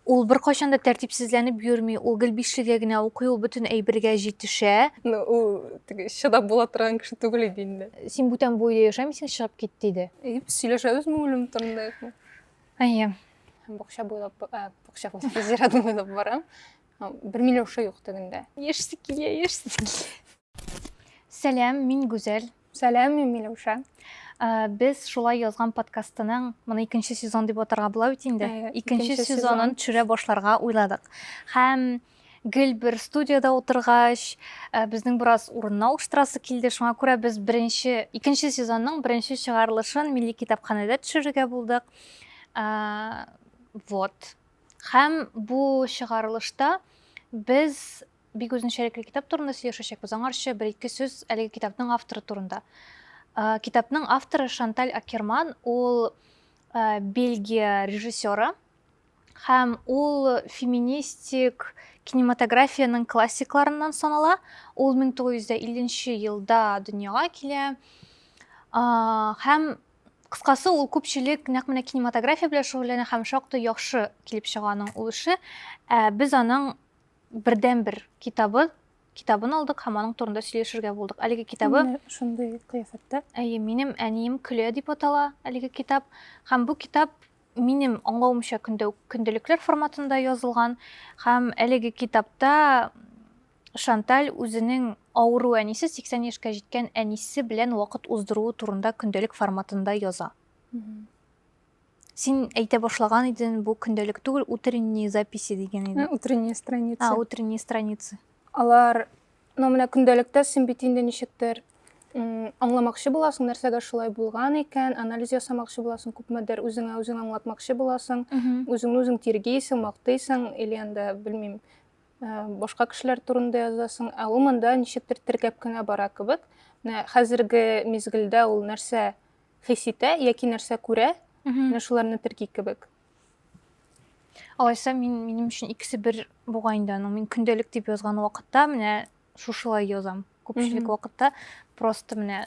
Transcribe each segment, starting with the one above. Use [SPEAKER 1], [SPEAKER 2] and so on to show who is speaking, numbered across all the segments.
[SPEAKER 1] Ул беркайчан да тәртипсезләнеп йөрми, ул гел бишлегә генә укый, ул бөтен әйбергә җитешә. Ну, ул теге
[SPEAKER 2] чыдап була торган кеше түгел иде инде. Син бүтән бу өйдә
[SPEAKER 1] яшәмисең, чыгып кит, диде. И, без сөйләшәбезме
[SPEAKER 2] үлем турында юкмы?
[SPEAKER 1] Әйе. Бакча
[SPEAKER 2] буйлап, ә, бакча буйлап, зират буйлап барам. Һәм Бер Миләүшә юк тегендә. Яшьсе килә,
[SPEAKER 1] яшьсе килә. Сәлам, мин Гүзәл. Сәлам, мин Миләүшә.
[SPEAKER 2] Без
[SPEAKER 1] шулай язган подкастының, моны икенче сезон дип атарга була бит инде. Икенче сезонын төшерә башларга уйладык. Һәм гел бер студияда утыргач, безнең бераз урынны алыштырасы килде. Шуңа күрә без беренче, икенче сезонның беренче чыгарылышын Милли китапханәдә төшерергә булдык. Вот. Һәм бу чыгарылышта без бик үзенчәлекле китап турында сөйләшәчәкбез. Аңарчы бер-ике сүз әлеге китапның авторы турында. Э, китапның авторы Шанталь Акерман, ул э, Бельгия режиссеры һәм ул феминистик кинематографиянең классикларыннан санала. Ул 1950 елда дөньяга килә. Э, һәм кыскасы ул күпчелек нәкъ менә кинематография белән шөгыльләнә һәм шактый яхшы килеп чыга аның ул эше. Без аның бердәнбер китабы китабын алдык һәм аның турында сөйләшергә булдык. Әлеге китабы шундый кыяфәттә.
[SPEAKER 2] Әйе, минем әнием
[SPEAKER 1] көлә дип атала әлеге китап. Һәм бу китап минем аңлавымча көндә көндөлекләр форматында язылган һәм әлеге китапта Шанталь үзенең авыру әнисе 80 яшькә җиткән әнисе белән вакыт уздыруы турында көндәлек форматында яза. Син әйтә башлаган идең, бу көндәлек түгел, утренние записи дигән идең. Утренние страницы. А,
[SPEAKER 2] утренние страницы.
[SPEAKER 1] Алар,
[SPEAKER 2] ну, менә көндәлектә син бит инде ничектер аңламакчы буласың, нәрсәгә шулай булган икән, анализ ясамакчы буласың, күпмедер үзеңә үзең аңлатмакчы буласың, үзеңне үзең тиргейсең, мактыйсың, или анда, белмим, э, башка кешеләр турында язасың, ә ул монда ничектер теркәп кенә бара кебек. Менә хәзерге мизгелдә ул нәрсә хис итә яки нәрсә күрә, менә шуларны терки кебек.
[SPEAKER 1] Алайса, мин минем өчен икесе бер буга инде аның. Мин көндәлек дип язган вакытта менә шушылай язам. Күпчелек вакытта просто менә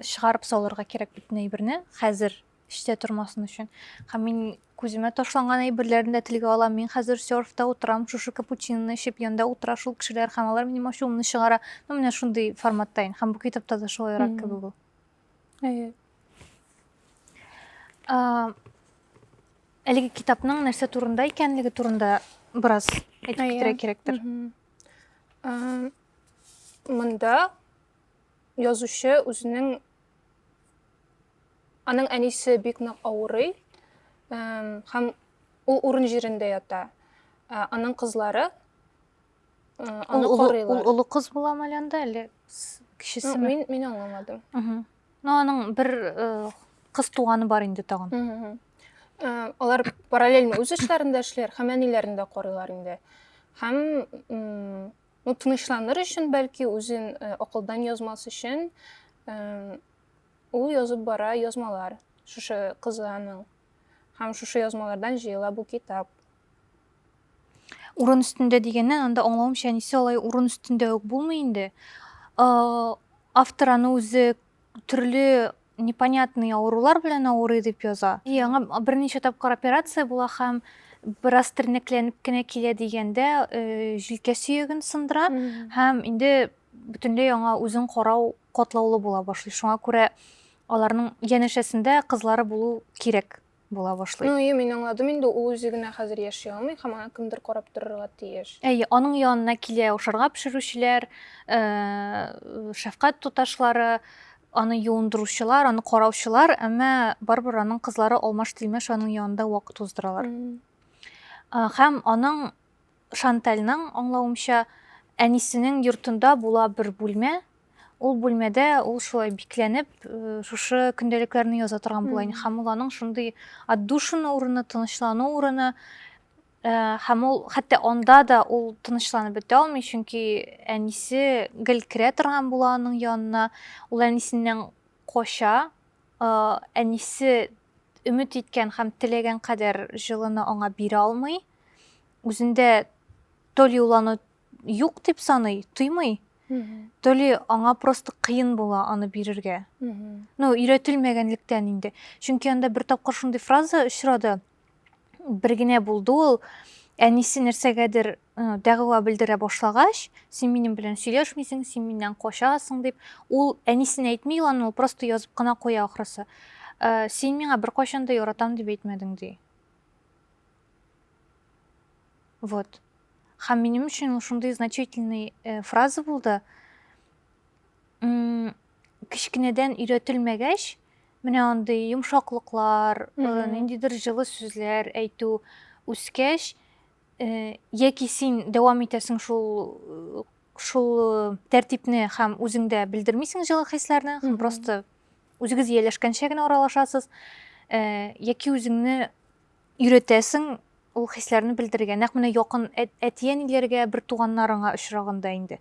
[SPEAKER 1] чыгарып салырга кирәк бөтен әйберне хәзер эштә тормасын өчен. Һәм мин күземә ташланган әйберләрне дә телгә алам. Мин хәзер серфта утырам, шушы капучиноны эчеп, янда утыра шул кешеләр һәм алар минем ачуымны чыгара. Ну, менә шундый форматта инде. Һәм бу китапта да шулайрак кебек ул. Әйе.
[SPEAKER 2] Ә,
[SPEAKER 1] әлеге китапның нәрсә турында икәнлеге турында бераз әйтеп китерә кирәктер. Ә,
[SPEAKER 2] монда язучы үзенең аның әнисе бик нык авырый һәм ул урын җирендә ята. Ә, аның кызлары Аны карыйлар. Ул олы кыз була әле
[SPEAKER 1] анда, әле кечесе. Мин мин аңламадым.
[SPEAKER 2] Ну аның
[SPEAKER 1] бер кыз туганы бар инде тагын. Алар
[SPEAKER 2] параллельно үз эшләрендә эшләр, һәм әниләрен дә карыйлар инде. Һәм ну тынычланыр өчен, бәлки үзен акылдан язмас өчен ул язып бара язмалар шушы кызының. Һәм шушы язмалардан җыела бу китап. Урын
[SPEAKER 1] өстендә дигәннән, анда аңлавымча, әнисе алай урын өстендә үк булмый инде. Автор аны үзе төрле непонятный авырулар белән авырый дип яза. И аңа берничә тапкыр операция була һәм бераз тернәкләнеп кенә килә дигәндә, э, җилкә сөяген сындыра һәм инде бөтенләй аңа үзен карау катлаулы була башлый. Шуңа күрә аларның янәшәсендә кызлары булу кирәк. була башлый. Ну, ие, мин аңладым инде,
[SPEAKER 2] ул үзе генә хәзер яши алмый һәм аны кемдер карап торырга тиеш. Әйе, аның янына
[SPEAKER 1] килә ашарга пешерүчеләр, э, шәфкать туташлары, аны юындыручылар, аны караучылар, әмма барыбер аның кызлары алмаш-тилмәш аның янында вакыт уздыралар. Һәм аның Шантальның аңлавымча, әнисенең йортында була бер бүлмә, ул бүлмәдә ул шулай бикләнеп, шушы көндәлекләрне яза торган була. Ин һәм ул аның шундый отдушина урыны, тынычлану урыны. Һәм ул хәтта анда да ул тынычланып бетә алмый, чөнки әнисе гел керә торган була аның янына. Ул әнисеннән кача, әнисе өмет иткән һәм теләгән кадәр җылыны аңа бирә алмый, үзендә то ли ул аны юк дип саный, тоймый, то ли аңа просто кыен була аны бирергә. Ну, өйрәтелмәгәнлектән инде. Чөнки анда бер тапкыр шундый фраза очрады. бер генә булды ул әнисе нәрсәгәдер дәгъва белдерә башлагач син минем белән сөйләшмисең син миннән качасың дип ул әнисенә әйтми ул аны просто язып кына куя ахрысы ә, син миңа беркайчан да яратам дип әйтмәдең ди вот һәм минем өчен ул шундый значительный э, фраза булды кечкенәдән өйрәтелмәгәч, менә андый йомшаклыклар, ниндидер җылы сүзләр әйтү үскәч, яки син дәвам итәсең шул шул тәртипне һәм үзеңдә белдермисең җылы хисләрне, һәм просто үзегез ияләшкәнчә генә аралашасыз, яки үзеңне өйрәтәсең ул хисләрне белдерергә. Нәкъ менә якын әтиәниләргә, бер туганнарыңа очрагында инде.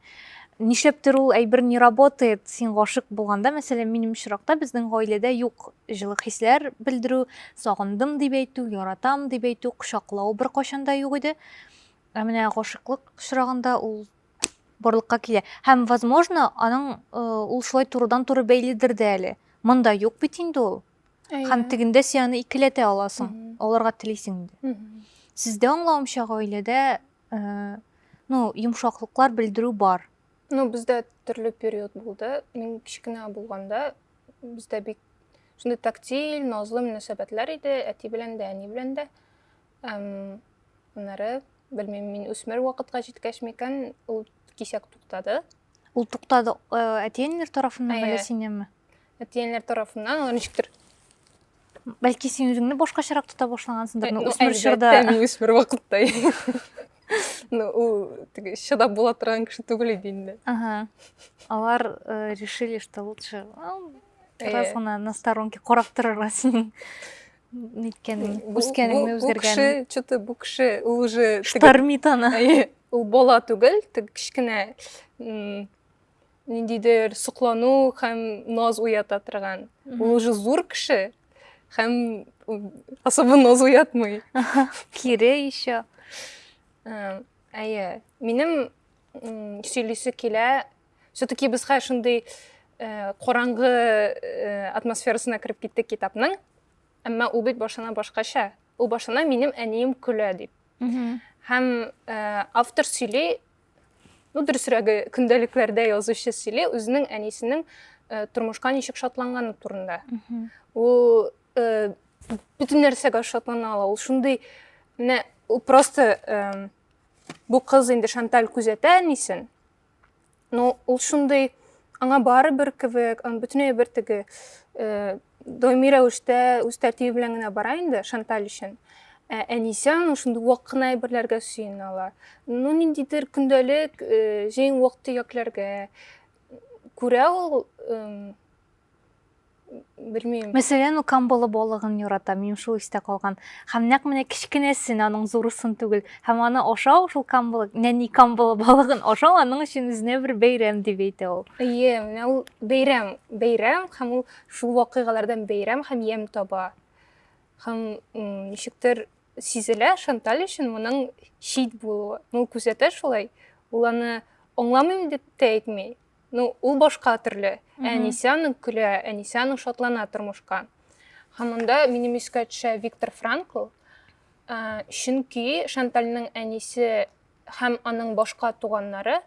[SPEAKER 1] Нишләптер ул әйбер не работает, син гашык булганда, мәсәлән, минем очракта безнең гаиләдә юк җылы хисләр белдерү, сагындым дип әйтү, яратам дип әйтү, кочаклау беркайчан да юк иде. Ә менә гашыклык очрагында ул барлыкка килә. Һәм, возможно, аның э, ул шулай турыдан-туры бәйледер дә әле. Монда юк бит инде ул. һәм тегендә син аны икеләтә аласың аларга телисең инде сездә аңлавымча гаиләдә э, ну йомшаклыклар белдерү бар ну бездә
[SPEAKER 2] төрле период булды мин кечкенә булганда бездә бик шундый тактиль назлы мөнәсәбәтләр иде әти белән дә әни белән дә Аннары, белмим, мин үсмер вакытка җиткәч микән, ул кисәк туктады. Ул туктады
[SPEAKER 1] э, әтиәниләр тарафыннан әллә синнәнме? Әтиәниләр
[SPEAKER 2] тарафыннан, ул ничектер
[SPEAKER 1] бәлки син үзеңне башкачарак тота башлагансыңдыр ну үсмер чорда мин үсмер вакытта
[SPEAKER 2] ну ул теге чыдап була торган кеше түгел иде инде ага алар
[SPEAKER 1] э, решили что лучше бераз гына на сторонке карап торырга синең неткәнең үскәнеңне үзгәргәнең бу кеше че то бу кеше
[SPEAKER 2] ул уже штормит аны
[SPEAKER 1] ул бала түгел
[SPEAKER 2] теге кечкенә ниндидер соклану һәм наз уята торган ул уже зур кеше һәм особо наз уятмый кире
[SPEAKER 1] еще әйе
[SPEAKER 2] минем сөйлисе килә все таки без хәзер шундый э, караңгы э, атмосферасына кереп киттек китапның әмма ул бит башына башкача ул башына минем әнием көлә дип һәм э, автор сөйли ну дөресрәге көндәлекләрдә язучы сөйли үзенең әнисенең э, тормышка ничек шатланганы турында ул э, бөтен нәрсәгә шатлана ала ул шундый менә просто бу кыз инде шанталь күзәтә әнисен но ул шундый аңа барыбер кебек аны бөтенләй бер теге э, даими рәвештә үз тәртибе белән генә бара инде шанталь өчен ә әнисе аның шундый вак кына әйберләргә сөенә ала ну ниндидер көндәлек э, җәен вак төякләргә күрә ул белмим. Мәсәлән, ул камбалы
[SPEAKER 1] балыгын ярата, минем шул истә калган. Һәм нәкъ менә кечкенәсен, аның зурысын түгел. Һәм аны ашау, шул камбалы, нәни камбалы балыгын ашау аның өчен үзенә бер бәйрәм дип әйтә ул. Әйе, менә ул
[SPEAKER 2] бәйрәм, бәйрәм һәм ул шул вакыйгалардан бәйрәм һәм ям таба. Һәм ничектер сизелә Шанталь өчен моның чит булуы. Ул күзәтә шулай. Ул аны аңламыйм дип тә әйтми. Ну, ул башка төрле. Әнисә аның көлә, әнисә аның шатлана тормышка. Һәм монда минем искә төшә Виктор Франкл, ә, чөнки Шантальның әнисе һәм аның башка туганнары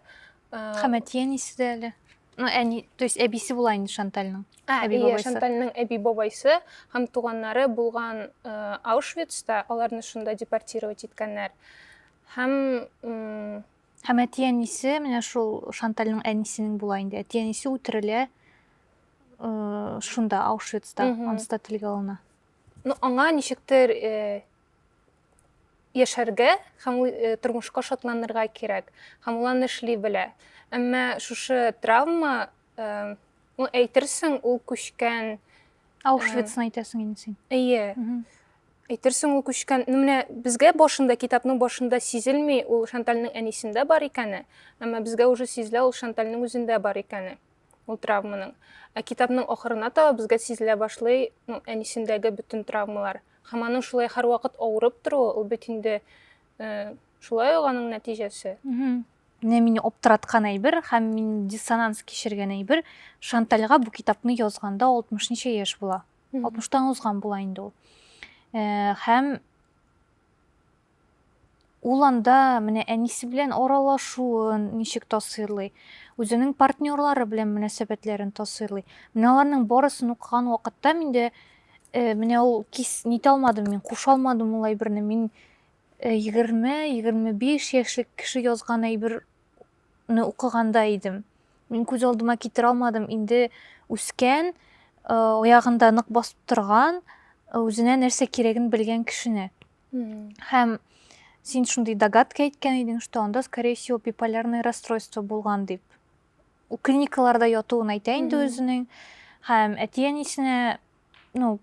[SPEAKER 2] Һәм әти
[SPEAKER 1] әнисе дә әле. Ну, әни, то есть әбисе була инде Шантальның. Ә, әби бабайсы. Шантальның
[SPEAKER 2] әби бабайсы һәм туганнары булган Аушвицта, аларны шунда депортировать иткәннәр. Һәм Һәм әти-әнисе,
[SPEAKER 1] менә шул Шантальның әнисенең була инде. Әти-әнисе үтерелә э, шунда, Аушвицта, анста телгә алына. Ну, аңа
[SPEAKER 2] ничектер э, яшәргә һәм э, тормышка шатланырга кирәк. Һәм ул аны эшли белә. Әмма шушы травма, э, ну, әйтерсең, ул күчкән Аушвицны
[SPEAKER 1] әйтәсең инде син. Әйе. Әйтерсең
[SPEAKER 2] ул күчкән, ну менә безгә башында, китапның башында сизелми ул Шантальның әнисендә бар икәне, әмма безгә уже сизелә ул Шантальның үзендә бар икәне, ул травманың. Ә китапның ахырына таба безгә сизелә башлый, ну, әнисендәге бөтен травмалар. Һәм аның шулай һәрвакыт авырып торуы, ул бит инде шулай ук аның нәтиҗәсе. Менә мине
[SPEAKER 1] аптыраткан әйбер һәм мин диссонанс кичергән әйбер, Шантальга бу китапны язганда 60 ничә яшь була? 60-тан узган була инде ул. Э, һәм ул анда менә әнисе белән аралашуын ничек тасыйрлый, үзенең партнерлары белән мөнәсәбәтләрен тасыйрлый. Менә аларның барысын укыган вакытта миндә э, менә ул кис нитә алмадым мин, куша алмадым ул әйберне. Мин 20-25 э, яшьлек кеше язган әйбер ны укыганда идем. Мин күз алдыма китерә алмадым, инде үскән, аягында нык басып торган, үзенә нәрсә кирәген белгән кешене. Һәм син шундый догадка әйткән идең, что анда, скорее всего, биполярное расстройство булган дип. Ул клиникаларда ятуын әйтә инде үзенең. Һәм әти-әнисенә, ну,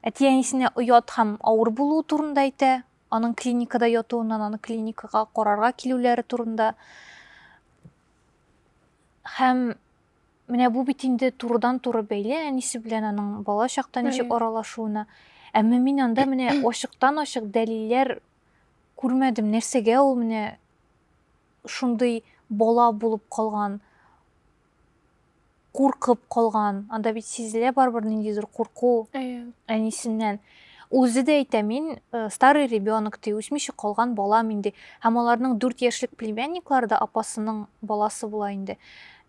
[SPEAKER 1] Әти-әнисенә оят һәм авыр булуы турында әйтә, аның клиникада ятуыннан, аны клиникага карарга килүләре турында. Һәм менә бу бит инде турыдан-туры бәйле әнисе белән аның бала чакта ничек аралашуына. Әмма мин анда менә ачыктан-ачык дәлилләр күрмәдем, нәрсәгә ул менә шундый бала булып калган куркып калган. Анда бит сизелә барыбер ниндидер курку Әйе. әнисеннән. Үзе дә әйтә, мин э, старый ребенок ди, үсмичә калган бала мин ди. Һәм аларның дүрт яшьлек племянниклары да апасының баласы була инде.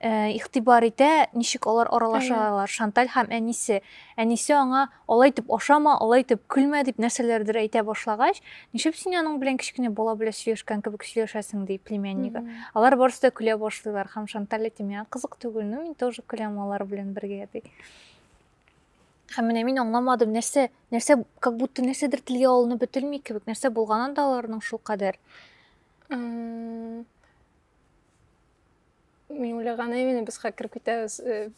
[SPEAKER 1] Э, Игътибар итә, ничек алар аралаша алар, Шанталь һәм әнисе. Әнисе аңа Алай итеп ашама, алай итеп көлмә, дип нәрсәләрдер әйтә башлагач, ничеп син аның белән кечкенә бала белән сөйләшкән кебек сөйләшәсең, ди племяннигы. Алар барысы да көлә башлыйлар һәм Шанталь әйтә, миңа кызык түгел, ну мин тоже көләм алар белән бергә, ди. Һәм менә мин аңламадым, нәрсә, нәрсә, как будто нәрсәдер телгә алынып бетелми кебек, нәрсә булган анда аларның шулкадәр.
[SPEAKER 2] Мин уйлаган именно без хакер көтәбез э,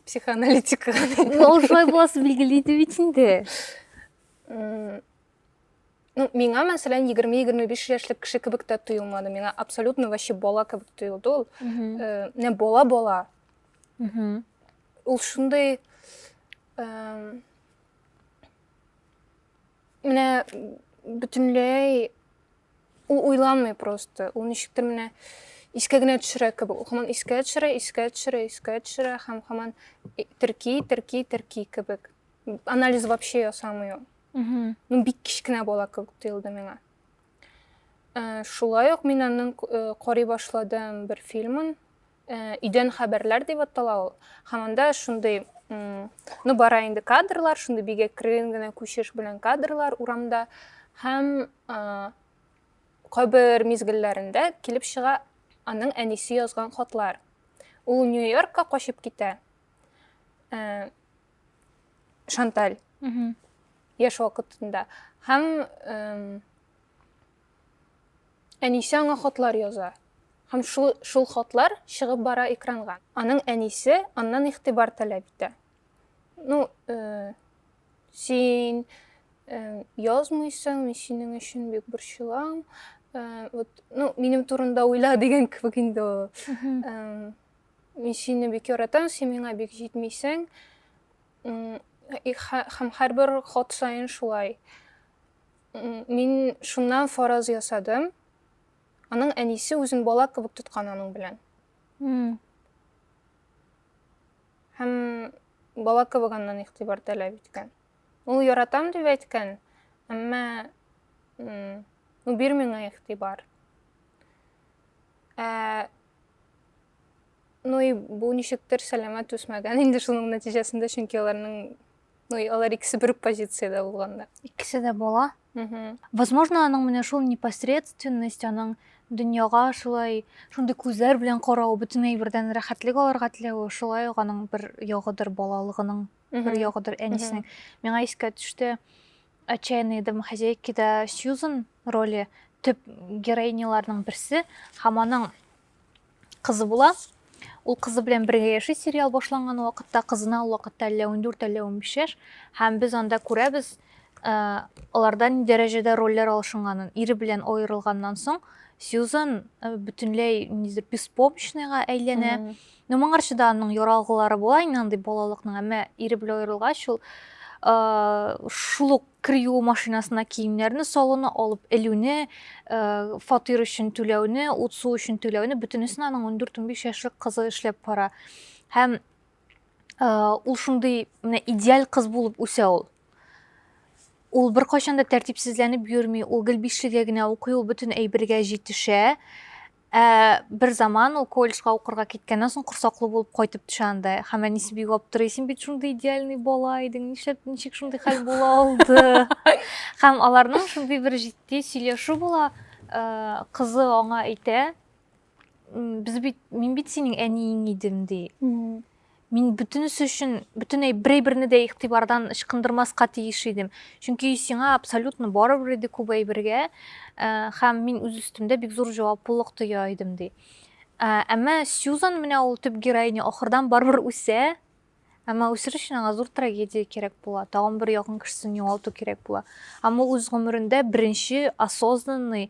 [SPEAKER 2] психоаналитика. Ну, шулай
[SPEAKER 1] буласы билгеле иде бит инде.
[SPEAKER 2] Ну, миңа, мәсәлән, 20-25 яшьлек кеше кебек тә тоелмады. Миңа абсолютно вообще бала кебек тоелды ул. Э, не бала-бала. Ул шундый менә бөтенләй Ул уйланмый просто. Ул ничектер менә искә генә төшерә кебек. Ул хаман искә төшерә, искә төшерә, искә төшерә һәм хаман терки, терки, терки кебек. Анализ вообще ясамый ул. Ну, бик кечкенә бала кебек тоелды миңа. Шулай ук мин аның карый башладым бер фильмын. Өйдән хәбәрләр дип атала ул. Һәм анда шундый, ну, бара инде кадрлар, шундый бик әкрен генә күчеш белән кадрлар урамда. Һәм кайбер мизгелләрендә килеп чыга аның әнисе язган хатлар. Ул Нью-Йоркка качып китә. Шанталь. Яшь вакытында. Һәм Әнисе аңа хатлар яза. Һәм шул шул хатлар чыгып бара экранга. Аның әнисе аннан игътибар таләп итә. Ну, э, син э, язмыйсың, мин синең өчен бик борчылам. Э, вот, ну, минем турында уйла дигән кебек инде ул. Э, мин сине бик яратам, син миңа бик җитмисең. М, и ха- Һәм һәрбер хат саен шулай. Мин шуннан фараз ясадым. Аның әнисе үзен бала кебек тоткан аның белән. Һәм бала кебек аннан игътибар таләп иткән. Ул яратам дип әйткән, әмма ну бир миңа игътибар. Ә ну и бу ничектер сәламәт үсмәгән инде шуның нәтиҗәсендә, чөнки аларның Ну, и алар икесе бер позицияда булганда. Икесе дә була.
[SPEAKER 1] Возможно, аның менә шул непосредственность, аның дөньяга шулай шундый күзләр белән карау, бөтен әйбердән рәхәтлек алырга теләве, шулай ук аның бер ягыдыр балалыгының, бер ягыдыр әнисенең. Миңа искә төште отчаянные домохозяйкида Сьюзен роле төп героиняларның берсе һәм аның кызы була. Ул кызы белән бергә яши сериал башланган вакытта, кызына ул вакытта әллә 14, әллә 15 яшь. Һәм без анда күрәбез, э, аларда ни дәрәҗәдә рольләр алышынганын. Ире белән аерылганнан соң Сьюзан э, бөтенләй ниндидер беспомощныйга әйләнә. Mm -hmm. Ну, моңарчы да аның яралгылары була, инде андый балалыкның, әмма ире белән аерылгач ул э, шул ук кер юу машинасына киемнәрне салуны, алып элүне, фатир өчен түләүне, ут-су өчен түләүне бөтенесен аның 14-15 яшьлек кызы эшләп бара. Һәм ул шундый менә идеаль кыз булып үсә ул. Ул беркайчан да тәртипсезләнеп йөрми, ул гел бишлегә генә укый, ул бөтен әйбергә җитешә. Ә бер заман ул колледжга укырга киткәннән соң корсаклы булып кайтып төшә анда. Һәм әнисе бик аптырый, син бит шундый идеальный бала идең, нишләп ничек шундый хәл була алды? Һәм аларның шундый бер җитди сөйләшү була, э, кызы аңа әйтә, без бит, мин бит синең әниең идем, ди. Мин бөтенесе өчен бөтенләй берәйберне дә игътибардан ычкындырмаска тиеш идем. Чөнки сиңа абсолютно барыбер иде күп әйбергә, э, һәм мин үз өстемдә бик зур җаваплылык тоя идем, ди. Э, әмма Сьюзан менә ул төп героиня ахырдан барыбер үсә, әмма үсер өчен аңа зур трагедия кирәк була, тагын бер якын кешесен югалту кирәк була. Һәм ул үз гомерендә беренче осознанный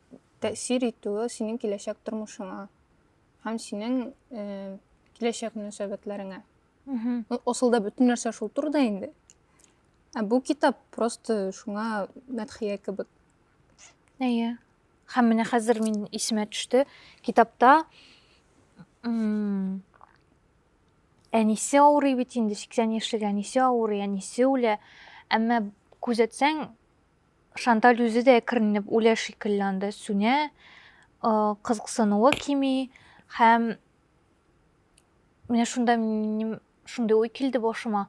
[SPEAKER 2] тәэсир итүе синең киләчәк тормышыңа һәм синең э, киләчәк мөнәсәбәтләреңә. Ну, асылда бөтен нәрсә шул турыда инде. Ә бу китап просто шуңа мәдхия кебек. Әйе.
[SPEAKER 1] Һәм менә хәзер мин исемә төште. Китапта әнисе авырый бит инде, 80 яшьлек әнисе авырый, әнисе үлә. Әмма күзәтсәң, Шанталь үзе дә әкренләп үлә шикелле анда, сүнә, кызыксынуы кими һәм менә шунда минем шундый уй килде башыма.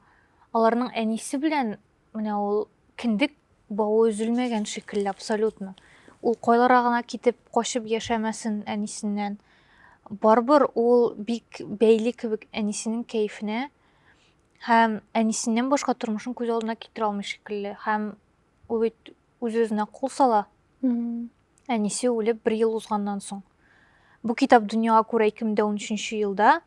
[SPEAKER 1] Аларның әнисе белән менә ул киндек бавы өзелмәгән шикелле абсолютно. Ул кайлара гына китеп, качып яшәмәсен әнисеннән. Барбыр ул бик бәйле кебек әнисенең кәефенә һәм әнисеннән башка тормышын күз алдына китерә алмый шикелле. Һәм Ул бит үз-үзенә кул сала. Әнисе үлеп бер ел узганнан соң. Бу китап дөньяга күрә 2013 елда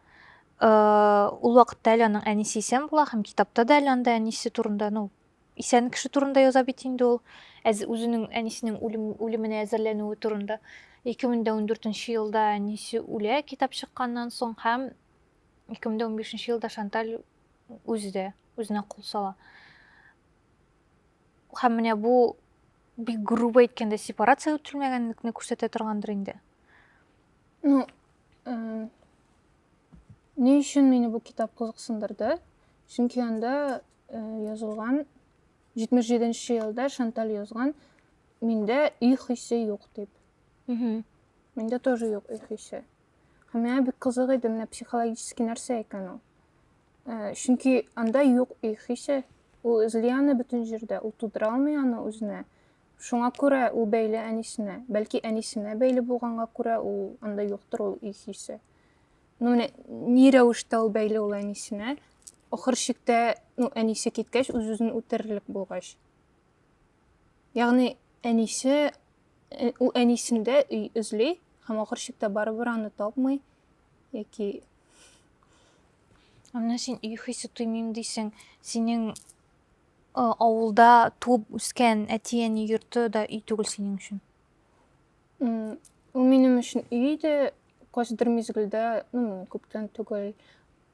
[SPEAKER 1] э, ул вакытта әле аның әнисе исән була һәм китапта да әле анда әнисе турында, ну, исән кеше турында яза бит инде ул. Әз, үзенең әнисенең үлем, үлеменә әзерләнүе турында. 2014 елда әнисе үлә китап чыкканнан соң һәм 2015 елда Шанталь үзе дә үзенә кул сала. Һәм менә бу бик грубо әйткәндә сепарация үтелмәгәнлекне күрсәтә торгандыр инде. Ну, э,
[SPEAKER 2] ни өчен мине бу китап кызыксындырды? Чөнки анда э, язылган 77 нче елда Шанталь язган миндә үй хисе юк дип. Миндә тоже юк үй хисе. Һәм миңа бик кызык иде, менә психологический нәрсә икән ул. Э, чөнки анда юк их хисе ул эзли аны бөтен җирдә ул тудыра алмый аны үзенә шуңа күрә ул бәйле әнисенә бәлки әнисенә бәйле булганга күрә ул анда юктыр ул их хисе ну менә ни рәвештә ул бәйле ул әнисенә ахыр чиктә ну әнисе киткәч үз үзен үтерерлек булгач ягъни әнисе э, ул әнисендә өй эзли һәм ахыр чиктә барыбер аны тапмый яки
[SPEAKER 1] менә син өй хисе тоймыйм дисең синең авылда туып үскән әти әни йорты да өй түгел синең өчен
[SPEAKER 2] ул минем өчен өй иде кайсыдыр мизгелдә ну күптән түгел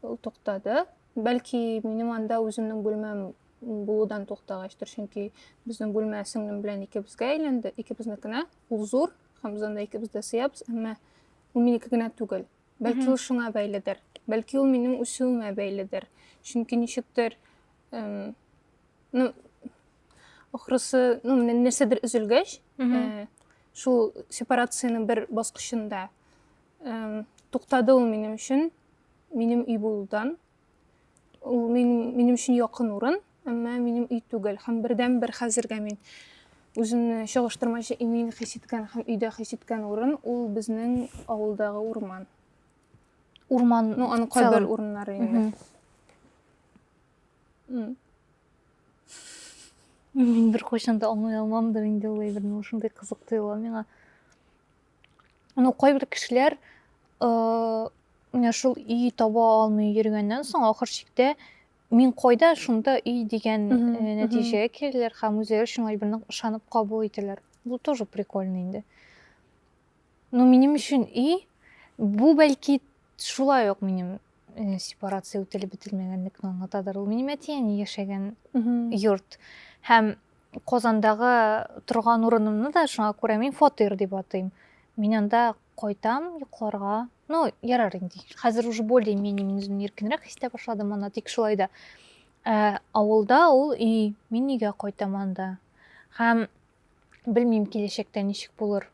[SPEAKER 2] ул туктады бәлки минем анда үземнең бүлмәм булудан туктагачтыр чөнки безнең бүлмә сеңлем белән икебезгә әйләнде икебезнекенә ул зур һәм без анда икебез дә сыябыз әмма Ул минеке генә түгел. Бәлки ул шуңа бәйледер. Бәлки ул минем үсүемә бәйледер. Чөнки ничектер ну ахрысы, ну менә нәрсәдер өзелгәч, э, шул сепарацияның бер баскычында туктады ул минем өчен, минем өй булудан. Ул минем, минем өчен якын урын, әмма минем өй түгел. Һәм бердән бер хәзергә мин үземне чагыштырмача имин хис иткән һәм өйдә хис иткән урын ул безнең авылдагы урман.
[SPEAKER 1] Урман, ну, аның кайбер
[SPEAKER 2] урыннары инде.
[SPEAKER 1] Мин бер кайчан да аңлый алмамдыр инде ул әйберне, ул шундый кызык тоела миңа. ну кайбер кешеләр менә шул өй таба алмый йөргәннән соң ахыр чиктә мин кайда шунда өй дигән нәтиҗәгә киләләр һәм үзләре өчен гаеберне ышанып кабул итәләр бу тоже прикольно инде но минем өчен өй бу бәлки шулай ук минем Э, сепарация үтелеп бетелмәгәнлекне аңлатадыр ул минем әти әни яшәгән йорт һәм казандагы торган урынымны да шуңа күрә мин фатир дип атыйм мин анда кайтам йокларга ну ярар инде хәзер уже более менее мин үземне иркенрәк хис итә башладым анда тик шулай да ә, авылда ул өй мин өйгә кайтам анда һәм белмим киләчәктә ничек булыр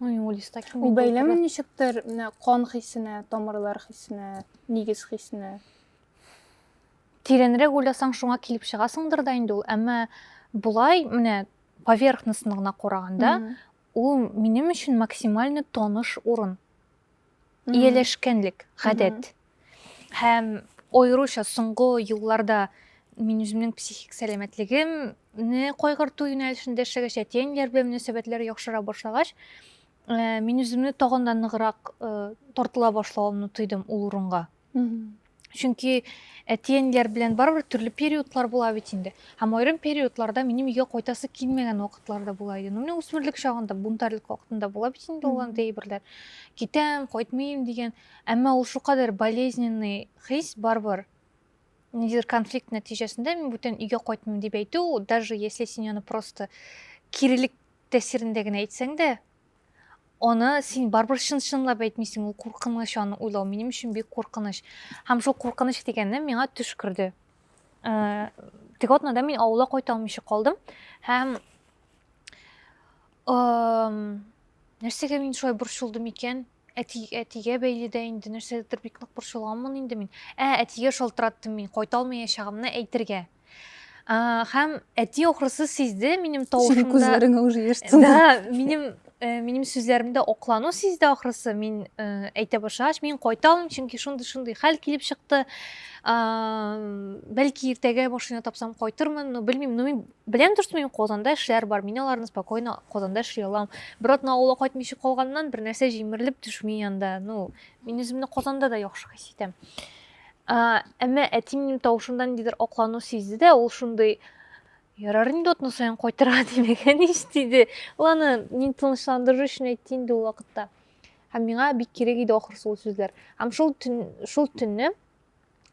[SPEAKER 1] Ну, юлиста кем? Ул бәйләме ничектер,
[SPEAKER 2] менә кан хисенә, тамырлар хисенә, нигез хисенә. Тирәнрәк
[SPEAKER 1] уйласаң, шуңа килеп чыгасыңдыр да инде ул, әмма болай менә поверхностно гына караганда, ул минем өчен максимально таныш урын. ияләшкәнлек, гадәт. Һәм аеруча соңгы елларда мин үземнең психик сәламәтлегемне кайгырту юнәлешендә эшләгәч, әти-әниләр белән мөнәсәбәтләр яхшыра башлагач, мин үземне тагын да ныграк тартыла башлавымны тойдым ул урынга. чөнки әти-әниләр белән барыбер төрле периодлар була бит инде һәм аерым периодларда минем өйгә кайтасы килмәгән вакытлар да була иде ну менә үсмерлек чагында бунтарьлык вакытында була бит инде ул андый әйберләр китәм кайтмыйм дигән әмма ул шулкадәр болезненный хис барыбер ниндидер конфликт нәтиҗәсендә мин бүтән өйгә кайтмыйм дип әйтү даже если син аны просто кирелек тәэсирендә генә әйтсәң дә аны син барыбер чын чынлап әйтмисең ул куркыныч аны уйлау минем өчен бик куркыныч һәм шул куркыныч дигәнне миңа төш керде э, теге атнада мин авылга кайта алмыйча калдым һәм нәрсәгә мин шулай борчылдым икән әти әтигә бәйле дә инде нәрсәдер бик нык борчылганмын инде мин ә әтигә шалтыраттым мин кайта алмаячагымны әйтергә Хәм әти охрысы сизде минем тавышымда. Синең күзләреңә уже яшь
[SPEAKER 2] тулды. Да, минем
[SPEAKER 1] э, минем сүзләремдә оклану сизде ахрысы. Мин э, әйтә башлагач, мин кайта алмыйм, чөнки шундый шундый хәл килеп чыкты. Бәлки иртәгә машина тапсам кайтырмын, но белмим. Но мин беләм дөрес мин Казанда эшләр бар. Мин аларны спокойно Казанда эшли алам. Бер атна авылга кайтмыйча калганнан, бер нәрсә җимерелеп төшми янда. Ну, мин үземне Казанда да яхшы хис итәм. Әмма әти минем тавышымда ниндидер аклану сизде дә, ул шундый Ярар инде атна саен кайтырга димәгән ич диде. Ул аны мин тынычландыру өчен әйтте инде ул вакытта. Һәм миңа бик кирәк иде ахрысы ул сүзләр. Һәм шул төн, шул төнне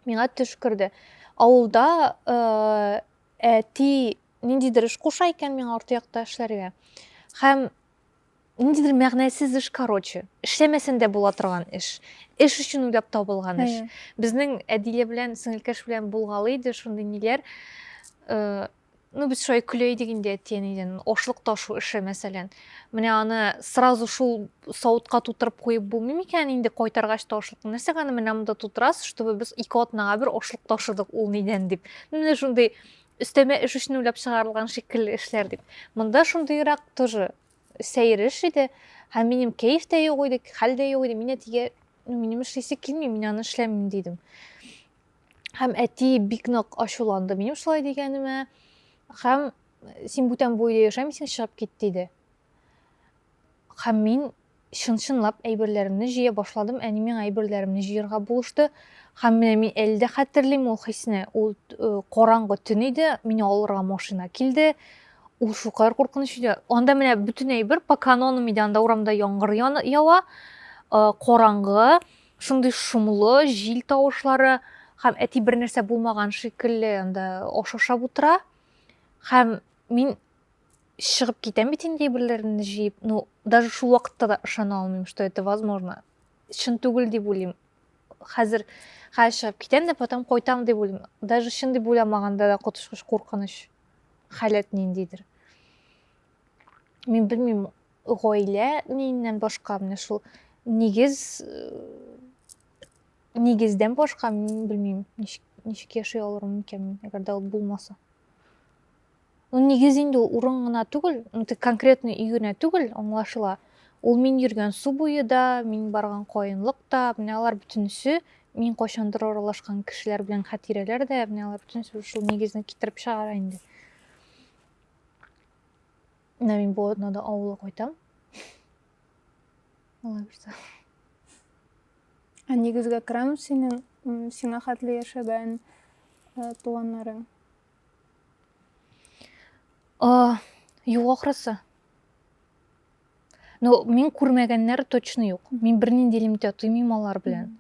[SPEAKER 1] миңа төш керде. Авылда э, әти ниндидер эш куша икән миңа арты якта эшләргә. Һәм ниндидер мәгънәсез эш короче эшләмәсәң дә була торган эш эш өчен уйлап табылган эш безнең әдилә белән сеңелкәш белән булгалый иде шундый ниләр э, ну без шулай көлә идек инде әти әнидән ашлык ташу эше мәсәлән менә аны сразу шул савытка тутырып куеп булмый микән инде кайтаргач та ашлыкны нәрсәгә аны менә монда тутырасыз чтобы без ике атнага бер ашлык ташыдык ул нидән дип менә шундый Өстәмә эш өчен уйлап чыгарылган шикелле эшләр дип. Монда шундыйрак тоже сәер эш иде. Һәм минем кәеф тә юк иде, хәл дә юк иде. Мин әтигә, ну, минем эшлисе килми, мин аны эшләмим, дидем. Һәм әти бик нык ачуланды минем шулай дигәнемә. Һәм син бүтән бу өйдә яшәмисең, чыгып кит, диде. Һәм мин чын-чынлап әйберләремне җыя башладым, әни миңа әйберләремне җыярга булышты. Һәм менә мин әле дә хәтерлим ул хисне. Ул э, караңгы төн иде, мине алырга машина килде. Ул шулкадәр куркыныч иде. Анда менә бөтен әйбер по канонам иде, анда урамда яңгыр ява, э, караңгы, шундый шомлы, җил тавышлары һәм әти бер нәрсә булмаган шикелле анда аш ашап утыра. Һәм мин чыгып китәм бит инде әйберләреңне җыеп ну даже шул вакытта да ышана алмыйм что это возможно чын түгел дип уйлыйм хәзер хәзер чыгып китәм дә потом кайтам дип уйлыйм даже чын дип уйламаганда да коточкыч куркыныч халәт ниндидер мин белмим гаилә ниннән башка менә шул нигез нигездән башка мин белмим ничек яши алырмын икән мин әгәр дә ул булмаса Ну, нигез инде ул урын гына түгел, ну, тик конкретно өй генә түгел, аңлашыла. Ул мин йөргән су буе да, мин барган каенлык та, менә алар бөтенесе мин кайчандыр аралашкан кешеләр белән хатирәләр дә, менә алар бөтенесе шул нигезне китереп чыгара инде. Менә мин бу атнада авылга кайтам. Алла бирсә. Ә
[SPEAKER 2] нигезгә керәм синең сиңа хәтле яшәгән туганнарың.
[SPEAKER 1] А, юк ахрысы. Но мин күрмәгәннәр точно юк. Мин бернинди элемтә тоймыйм алар белән.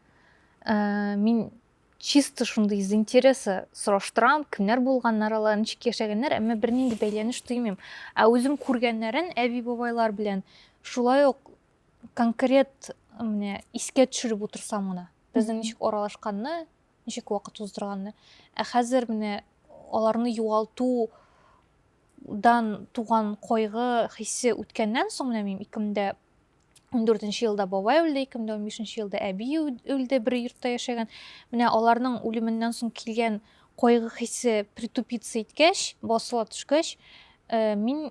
[SPEAKER 1] Ә, мин чисто шундый из интереса сораштырам, кемнәр булганнар алар, ничек яшәгәннәр, әмма бернинди бәйләнеш тоймыйм. Ә үзем күргәннәрен әби бабайлар белән шулай ук конкрет менә искә төшереп утырсам гына, безнең ничек аралашканны, ничек вакыт уздырганны. Ә хәзер менә аларны югалту дан туган кайгы хисе үткәннән соң менә мин 2014 елда бабай үлде, 2015 елда әби үлде, бер йортта яшәгән. Менә аларның үлеменнән соң килгән кайгы хисе притупиться иткәч, басыла төшкәч, э, мин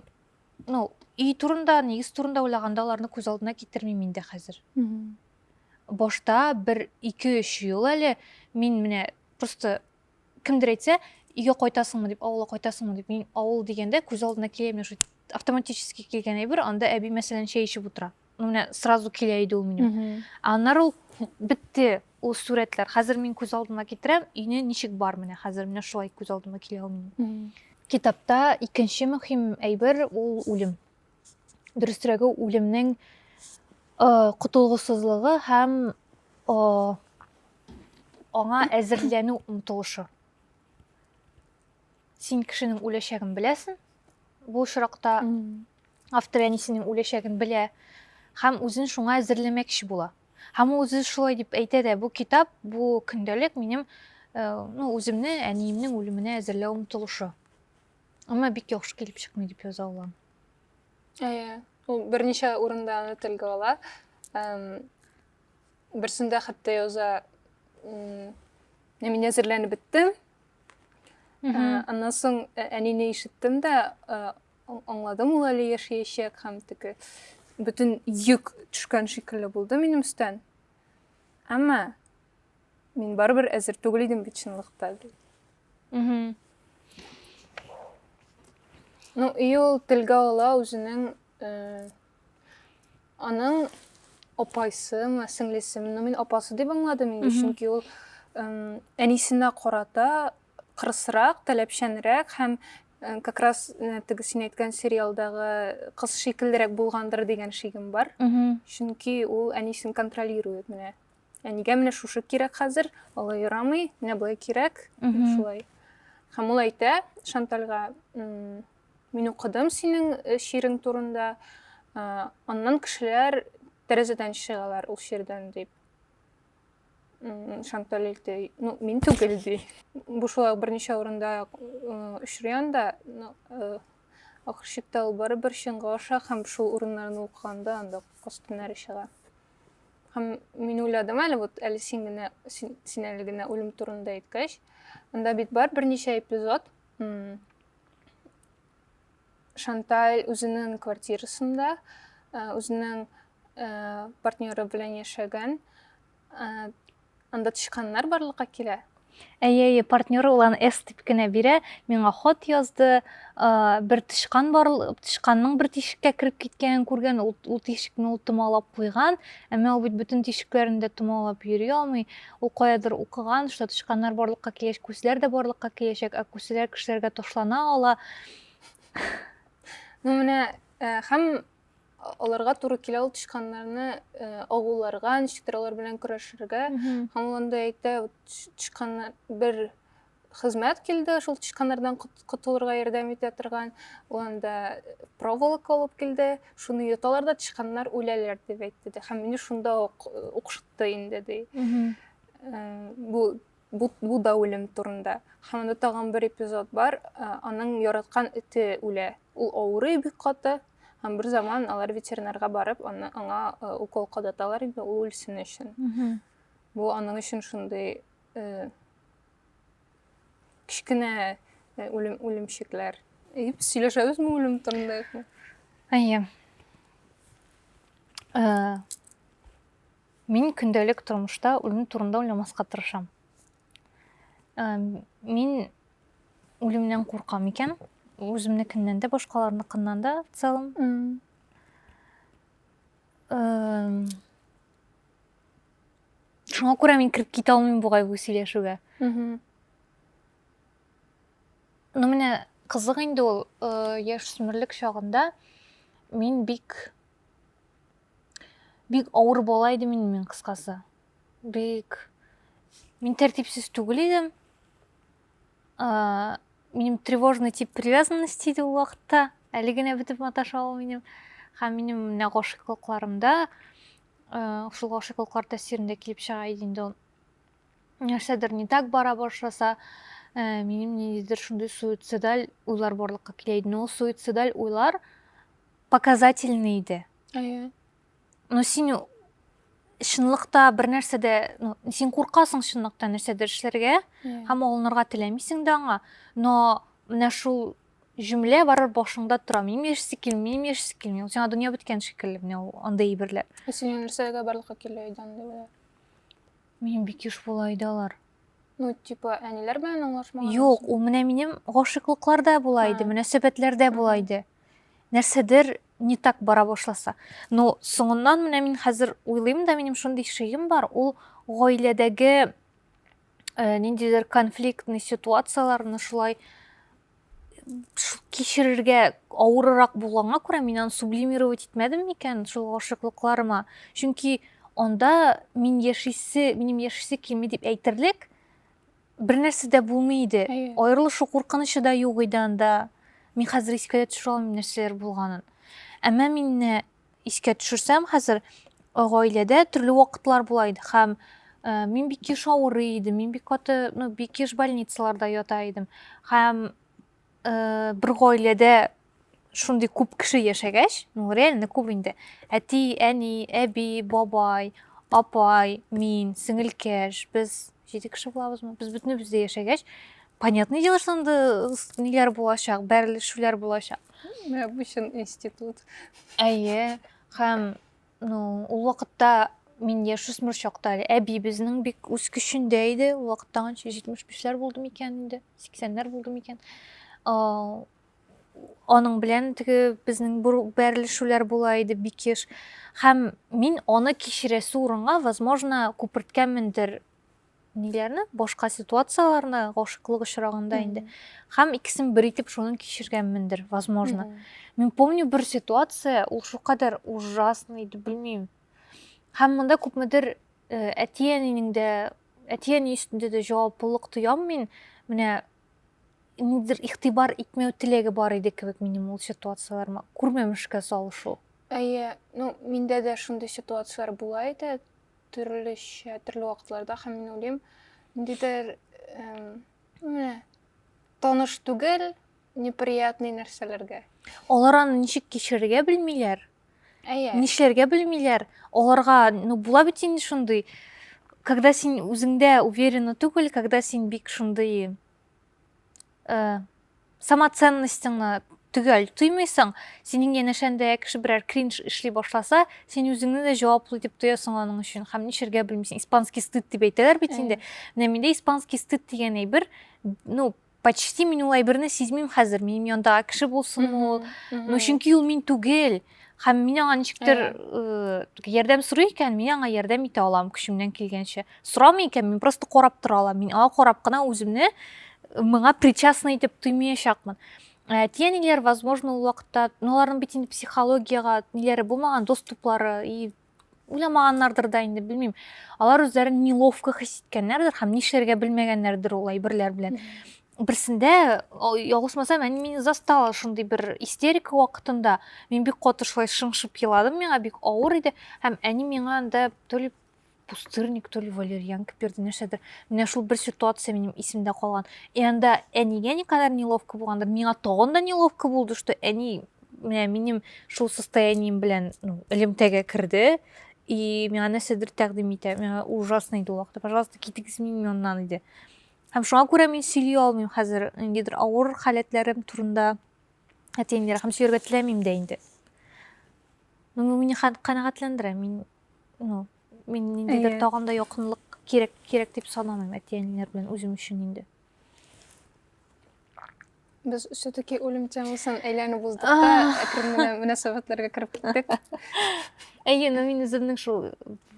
[SPEAKER 1] ну, өй турында, нигез турында уйлаганда аларны күз алдына китермим инде хәзер. башта бер ике-өч ел әле мин менә просто кемдер әйтсә, өйгә кайтасыңмы дип, авылга кайтасыңмы дип, мин авыл дигәндә күз алдына килә менә шул автоматически килгән әйбер, анда әби мәсәлән чәй эчеп утыра. Ну менә сразу килә иде ул минем. Аннары ул бетте ул сурәтләр. Хәзер мин күз алдына китерәм, өйне ничек бар менә хәзер менә шулай күз алдыма килә ул минем. Китапта икенче мөһим әйбер ул үлем. дөресрәге үлемнең котылгысызлыгы һәм аңа әзерләнү омтылышы син кешенең үләчәген беләсең бу очракта автор әнисенең үләчәген белә һәм үзен шуңа әзерләмәкче була һәм ул үзе шулай дип әйтә дә бу китап бу көндәлек минем ну үземне әниемнең үлеменә әзерләү омтылышы Аңа бик яхшы килеп чыкмый дип яза ала. Әйе.
[SPEAKER 2] Ул берничә урында аны телгә ала. Берсендә хәтта яза мин әзерләнеп беттем. Аннан соң ә, әнине ишеттем дә, аңладым ул әле яшәячәк һәм теге бөтен йөк төшкән шикелле булды минем өстән. Әмма Мин барыбер әзер түгел идем бит чынлыкта. Угу. Ну, и ул телгә ала үзенең э, аның апайсымы, сеңлесеме, ну мин апасы дип аңладым инде, чөнки ул э, әнисенә карата кырысрак, таләпчәнрәк һәм э, как раз э, теге син әйткән сериалдагы кыз шикеллерәк булгандыр дигән шигем бар. Угу. Чөнки ул әнисен контролирует менә. Ә нигә менә шушы кирәк хәзер? Алай ярамый, менә болай кирәк. Шулай. Һәм ул әйтә Шантальга, мин укыдым синең э, шигырең турында, аннан кешеләр тәрәзәдән чыгалар ул шигырьдән дип. Шанталь әйтте, ну, мин түгел ди. Бу шулай берничә урында очрый анда, э, ахырчыкта ул барыбер чынга аша һәм шул урыннарны укыганда анда костюмнары чыга. Һәм мин уйладым әле, вот әле син генә, син, син әле генә үлем турында әйткәч, анда бит бар берничә эпизод. Шанталь үзенең квартирасында, үзенең партнеры белән яшәгән, Анда тычканнар барлыкка килә. Әйе, әйе,
[SPEAKER 1] партнеры ул аны S дип кенә бирә. Миңа хат язды, бер тычкан бар, тычканның бер тишеккә кереп киткәнен күргән, ул, ул тишекне ул томалап куйган, әмма ул бит бөтен тишекләрен дә томалап йөри алмый. Ул каядыр укыган, что тычканнар барлыкка килеш, күсләр дә барлыкка киләчәк, ә күсләр кешеләргә ташлана ала.
[SPEAKER 2] Ну менә һәм аларга туры килә ул тычканнарны э, агуларга ничектер алар белән көрәшергә һәм ул анда әйтә тычканнар бер хезмәт килде шул тычканнардан котылырга ярдәм итә торган ул анда проволока алып килде шуны йоталар да тычканнар үләләр дип әйтте дә һәм мине шунда ук э, укшытты инде ди э, бу Бу, бу да үлем турында. Һәм анда тагын бер эпизод бар. Э, аның яраткан эте үлә. Ул авырый бик каты. Һәм бер заман алар ветеринарга барып, аны аңа э, укол кадаталар инде ул үлсен өчен. Бу аның өчен шундый э, кечкенә э, үлем үлемчекләр. И без сөйләшәбезме үлем турында юкмы? Әйе.
[SPEAKER 1] Э, Мин көндәлек тормышта үлем турында уйламаска тырышам. Э, мин үлемнән куркам икән, үземнекеннән дә, башкаларныкыннан да в целом. Э, шуңа күрә мин кереп китә алмыйм бугай бу сөйләшүгә. Ну менә кызык инде ул э, яшүсмерлек чагында мин бик бик авыр бала идем инде мин кыскасы бик мин тәртипсез түгел идем ә, минем тревожный тип привязанности иде ул вакытта әле генә бетеп маташа ул минем һәм минем менә гашыйклыкларымда ә, шул гашыйклыклар тәэсирендә килеп чыга иде инде ул нәрсәдер не так бара башласа ә, минем ниндидер шундый суицидаль уйлар барлыкка килә иде но суицидаль уйлар показательный иде әйе но син чынлыкта бер нәрсә дә ну, син куркасың чынлыкта нәрсәдер эшләргә һәм алынырга теләмисең дә аңа но менә шул җөмлә барыр башыңда тора минем яшисе килми минем яшисе килми сиңа дөнья беткән шикелле менә ул андай әйберләр ә синең нәрсәгә
[SPEAKER 2] барлыкка килә иде андыйлар мин
[SPEAKER 1] бик еш була иде алар Ну, типа,
[SPEAKER 2] әниләр белән аңлашмаган. Юк, ул менә минем
[SPEAKER 1] гашыйклыкларда була иде, мөнәсәбәтләрдә була иде. Нәрсәдер не так бара башласа. Ну, соңыннан менә мин хәзер уйлыйм да, минем шундый шигем бар, ул гаиләдәге э, ниндидер конфликтный ситуацияләрне шулай кичерергә авырырак булганга күрә мин аны сублимировать итмәдем микән шул гашыклыкларыма чөнки анда мин яшисе минем яшисе килми дип әйтерлек бернәрсә дә булмый иде аерылышу куркынычы да юк иде анда мин хәзер искә дә төшерә алмыйм нәрсәләр булганын әмма мине искә төшерсәм, хәзер э, гаиләдә төрле вакытлар була иде һәм э, мин бик еш авырый идем, мин бик каты, ну, бик еш больницаларда ята идем. Һәм э, бер гаиләдә шундый күп кеше яшәгәч, ну, реально күп инде. Әти, әни, әби, бабай, апай, мин, сеңелкәш, без җиде кеше булабызмы? Без бөтенебез дә яшәгәч, понятное дело, что анда ниләр булачак, бәрелешүләр булачак. Менә бу чын
[SPEAKER 2] институт. Әйе,
[SPEAKER 1] һәм ну, ул вакытта мин яшүсмер чакта әле әбиебезнең бик үз көчендә иде. Ул вакытта анча 75-ләр булды микән инде, 80-ләр булды микән. А, аның белән теге безнең бәрелешүләр була иде бик еш. Һәм мин аны кичерәсе урынга, возможно, күперткәнмендер ниләрне башка ситуацияләрне гашыклык очрагында инде һәм икесен бер итеп шуны кичергәнмендер возможно мин помню бер ситуация ул шулкадәр ужасный иде белмим һәм монда күпмедер э, әти әнинең дә әти әни өстендә дә җаваплылык тоям мин менә нидер игътибар итмәү теләге бар иде кебек минем ул ситуацияләремә күрмәмешкә салышу әйе ну
[SPEAKER 2] миндә дә шундый ситуацияләр була иде төрлечә, төрле вакытларда һәм мин уйлыйм, ниндидер менә таныш түгел, неприятный нәрсәләргә. Алар аны
[SPEAKER 1] ничек кичерергә белмиләр. Әйе. Нишләргә белмиләр. Аларга, ну, була бит инде шундый, когда син үзеңдә уверена түгел, когда син бик шундый э, самоценностьыңны төгәл тоймыйсың синең янәшәңдә кеше берәр кринж эшли башласа син үзеңне дә җаваплы дип тоясың аның өчен һәм нишләргә белмисең испанский стыд дип әйтәләр бит инде менә миндә испанский стыд дигән әйбер ну почти мин ул әйберне сизмим хәзер минем янда кеше булсын ул ну чөнки ул мин түгел һәм мин аңа ничектер ярдәм сорый икән мин аңа ярдәм итә алам көчемнән килгәнчә сорамый икән мин просто карап тора алам мин аңа карап кына үземне моңа причастный итеп тоймаячакмын ә, тиянилер возможно ул вакытта ну аларның бит инде психологияга ниләре булмаган доступлары и уйламаганнардыр да инде белмим алар үзләрен неловко хис иткәннәрдер һәм нишләргә белмәгәннәрдер ул әйберләр белән берсендә ялгышмасам әни мине застала шундый бер истерика вакытында мин бик каты шулай шыңшып еладым миңа бик авыр иде һәм әни миңа анда то ли пустырник то ли валерьянка бирде нәрсәдер менә шул бер ситуация минем исемдә калган и анда әнигә никадәр неловко булгандыр миңа тагын да неловко булды что әни менә минем шул состоянием белән ну, элемтәгә керде и миңа нәрсәдер тәкъдим итә миңа ужасно иде ул вакытта пожалуйста китегез мин моннан иде һәм шуңа күрә мин сөйли алмыйм хәзер ниндидер авыр халәтләрем турында әтиемнәр һәм сөйләргә теләмим дә инде ну бу мине канәгатьләндерә мин ну мин ниндидер тагын да якынлык кирәк кирәк дип санамыйм әти әниләр белән үзем өчен инде
[SPEAKER 2] Без все-таки үлем темасын әйләнеп уздык та, әкрен генә мөнәсәбәтләргә кереп киттек. Әйе,
[SPEAKER 1] но мин үземнең шул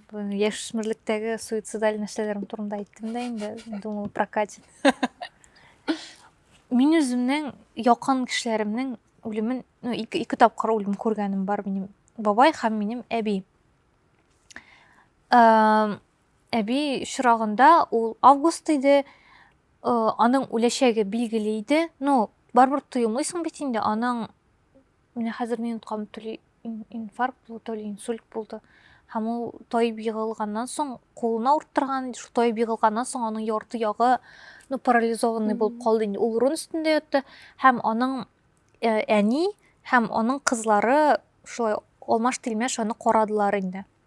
[SPEAKER 1] яшүсмерлектәге суицидаль нәрсәләрем турында әйттем дә инде, думал прокатит. Мин үземнең якын кешеләремнең үлемен, ну, ике, ике тапкыр үлем күргәнем бар минем бабай һәм минем әби. Әби чорагында ул август иде, аның үләчәге билгеле иде. Ну, барыбер тоемыйсың бит инде, аның менә хәзер минуткам төли инфаркт булды, то ли инсульт булды. Һәм ул тайып егылганнан соң, кулына урттырган, шул тайып егылганнан соң аның ярты ягы ну, парализованный булып калды инде. Ул урын өстендә ятты һәм аның э, әни һәм аның кызлары шулай алмаш-тилмәш аны карадылар инде.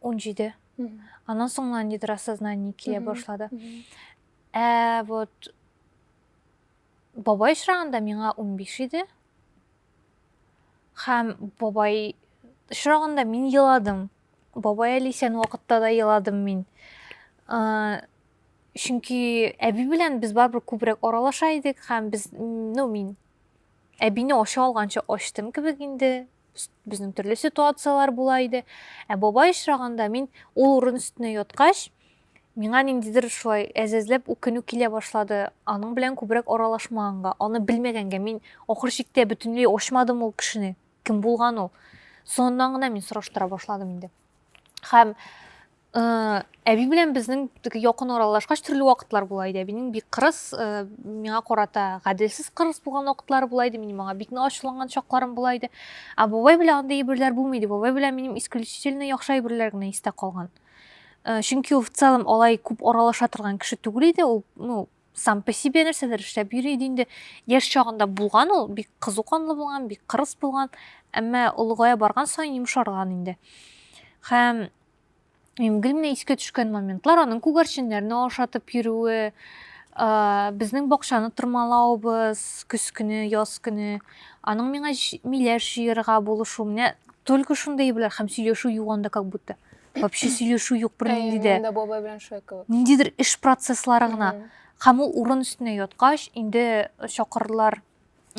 [SPEAKER 2] он
[SPEAKER 1] җиде аннан соң гына ниндидер осознание килә башлады ә вот бабай очрагында миңа он биш иде һәм бабай очрагында мин еладым бабай әле исән вакытта да еладым мин чөнки әби белән без барыбер күбрәк аралаша идек һәм без ну мин әбине ача алганчы ачтым кебек инде безнең төрле ситуацияләр була иде. Ә бабай очраганда мин ул урын өстенә яткач, миңа ниндидер шулай әзәзләп үкенү килә башлады. Аның белән күбрәк аралашмаганга, аны белмәгәнгә мин ахыр чиктә бөтенләй ачмадым ул кешене. Кем булган ул? Соңыннан гына мин сораштыра башладым инде. һәм э, әби белән безнең теге якын аралашкач төрле вакытлар була иде әбинең бик кырыс э, миңа карата гаделсез кырыс булган вакытлары була иде минем аңа бик ачуланган чакларым була иде ә бабай белән андый әйберләр булмый иде бабай белән минем исключительно яхшы әйберләр генә истә калган э, чөнки ул в целом алай күп аралаша торган кеше түгел иде ул ну сам по себе нәрсәдер эшләп йөри иде инде яшь чагында булган ул бик кызу канлы булган бик кырыс булган әмма олыгая барган саен йомшарган инде һәм мин гел искә төшкән моментлар аның күгәрченнәрне ашатып йөрүе безнең бакчаны тырмалавыбыз көз көне яз көне аның миңа миләш җыярга булышу менә только шундый әйберләр һәм сөйләшү юганда как будто вообще сөйләшү юк бернинди дә монда бабай белән швекова
[SPEAKER 2] ниндидер эш процесслары
[SPEAKER 1] гына һәм ул урын өстенә яткач инде э, чакырдылар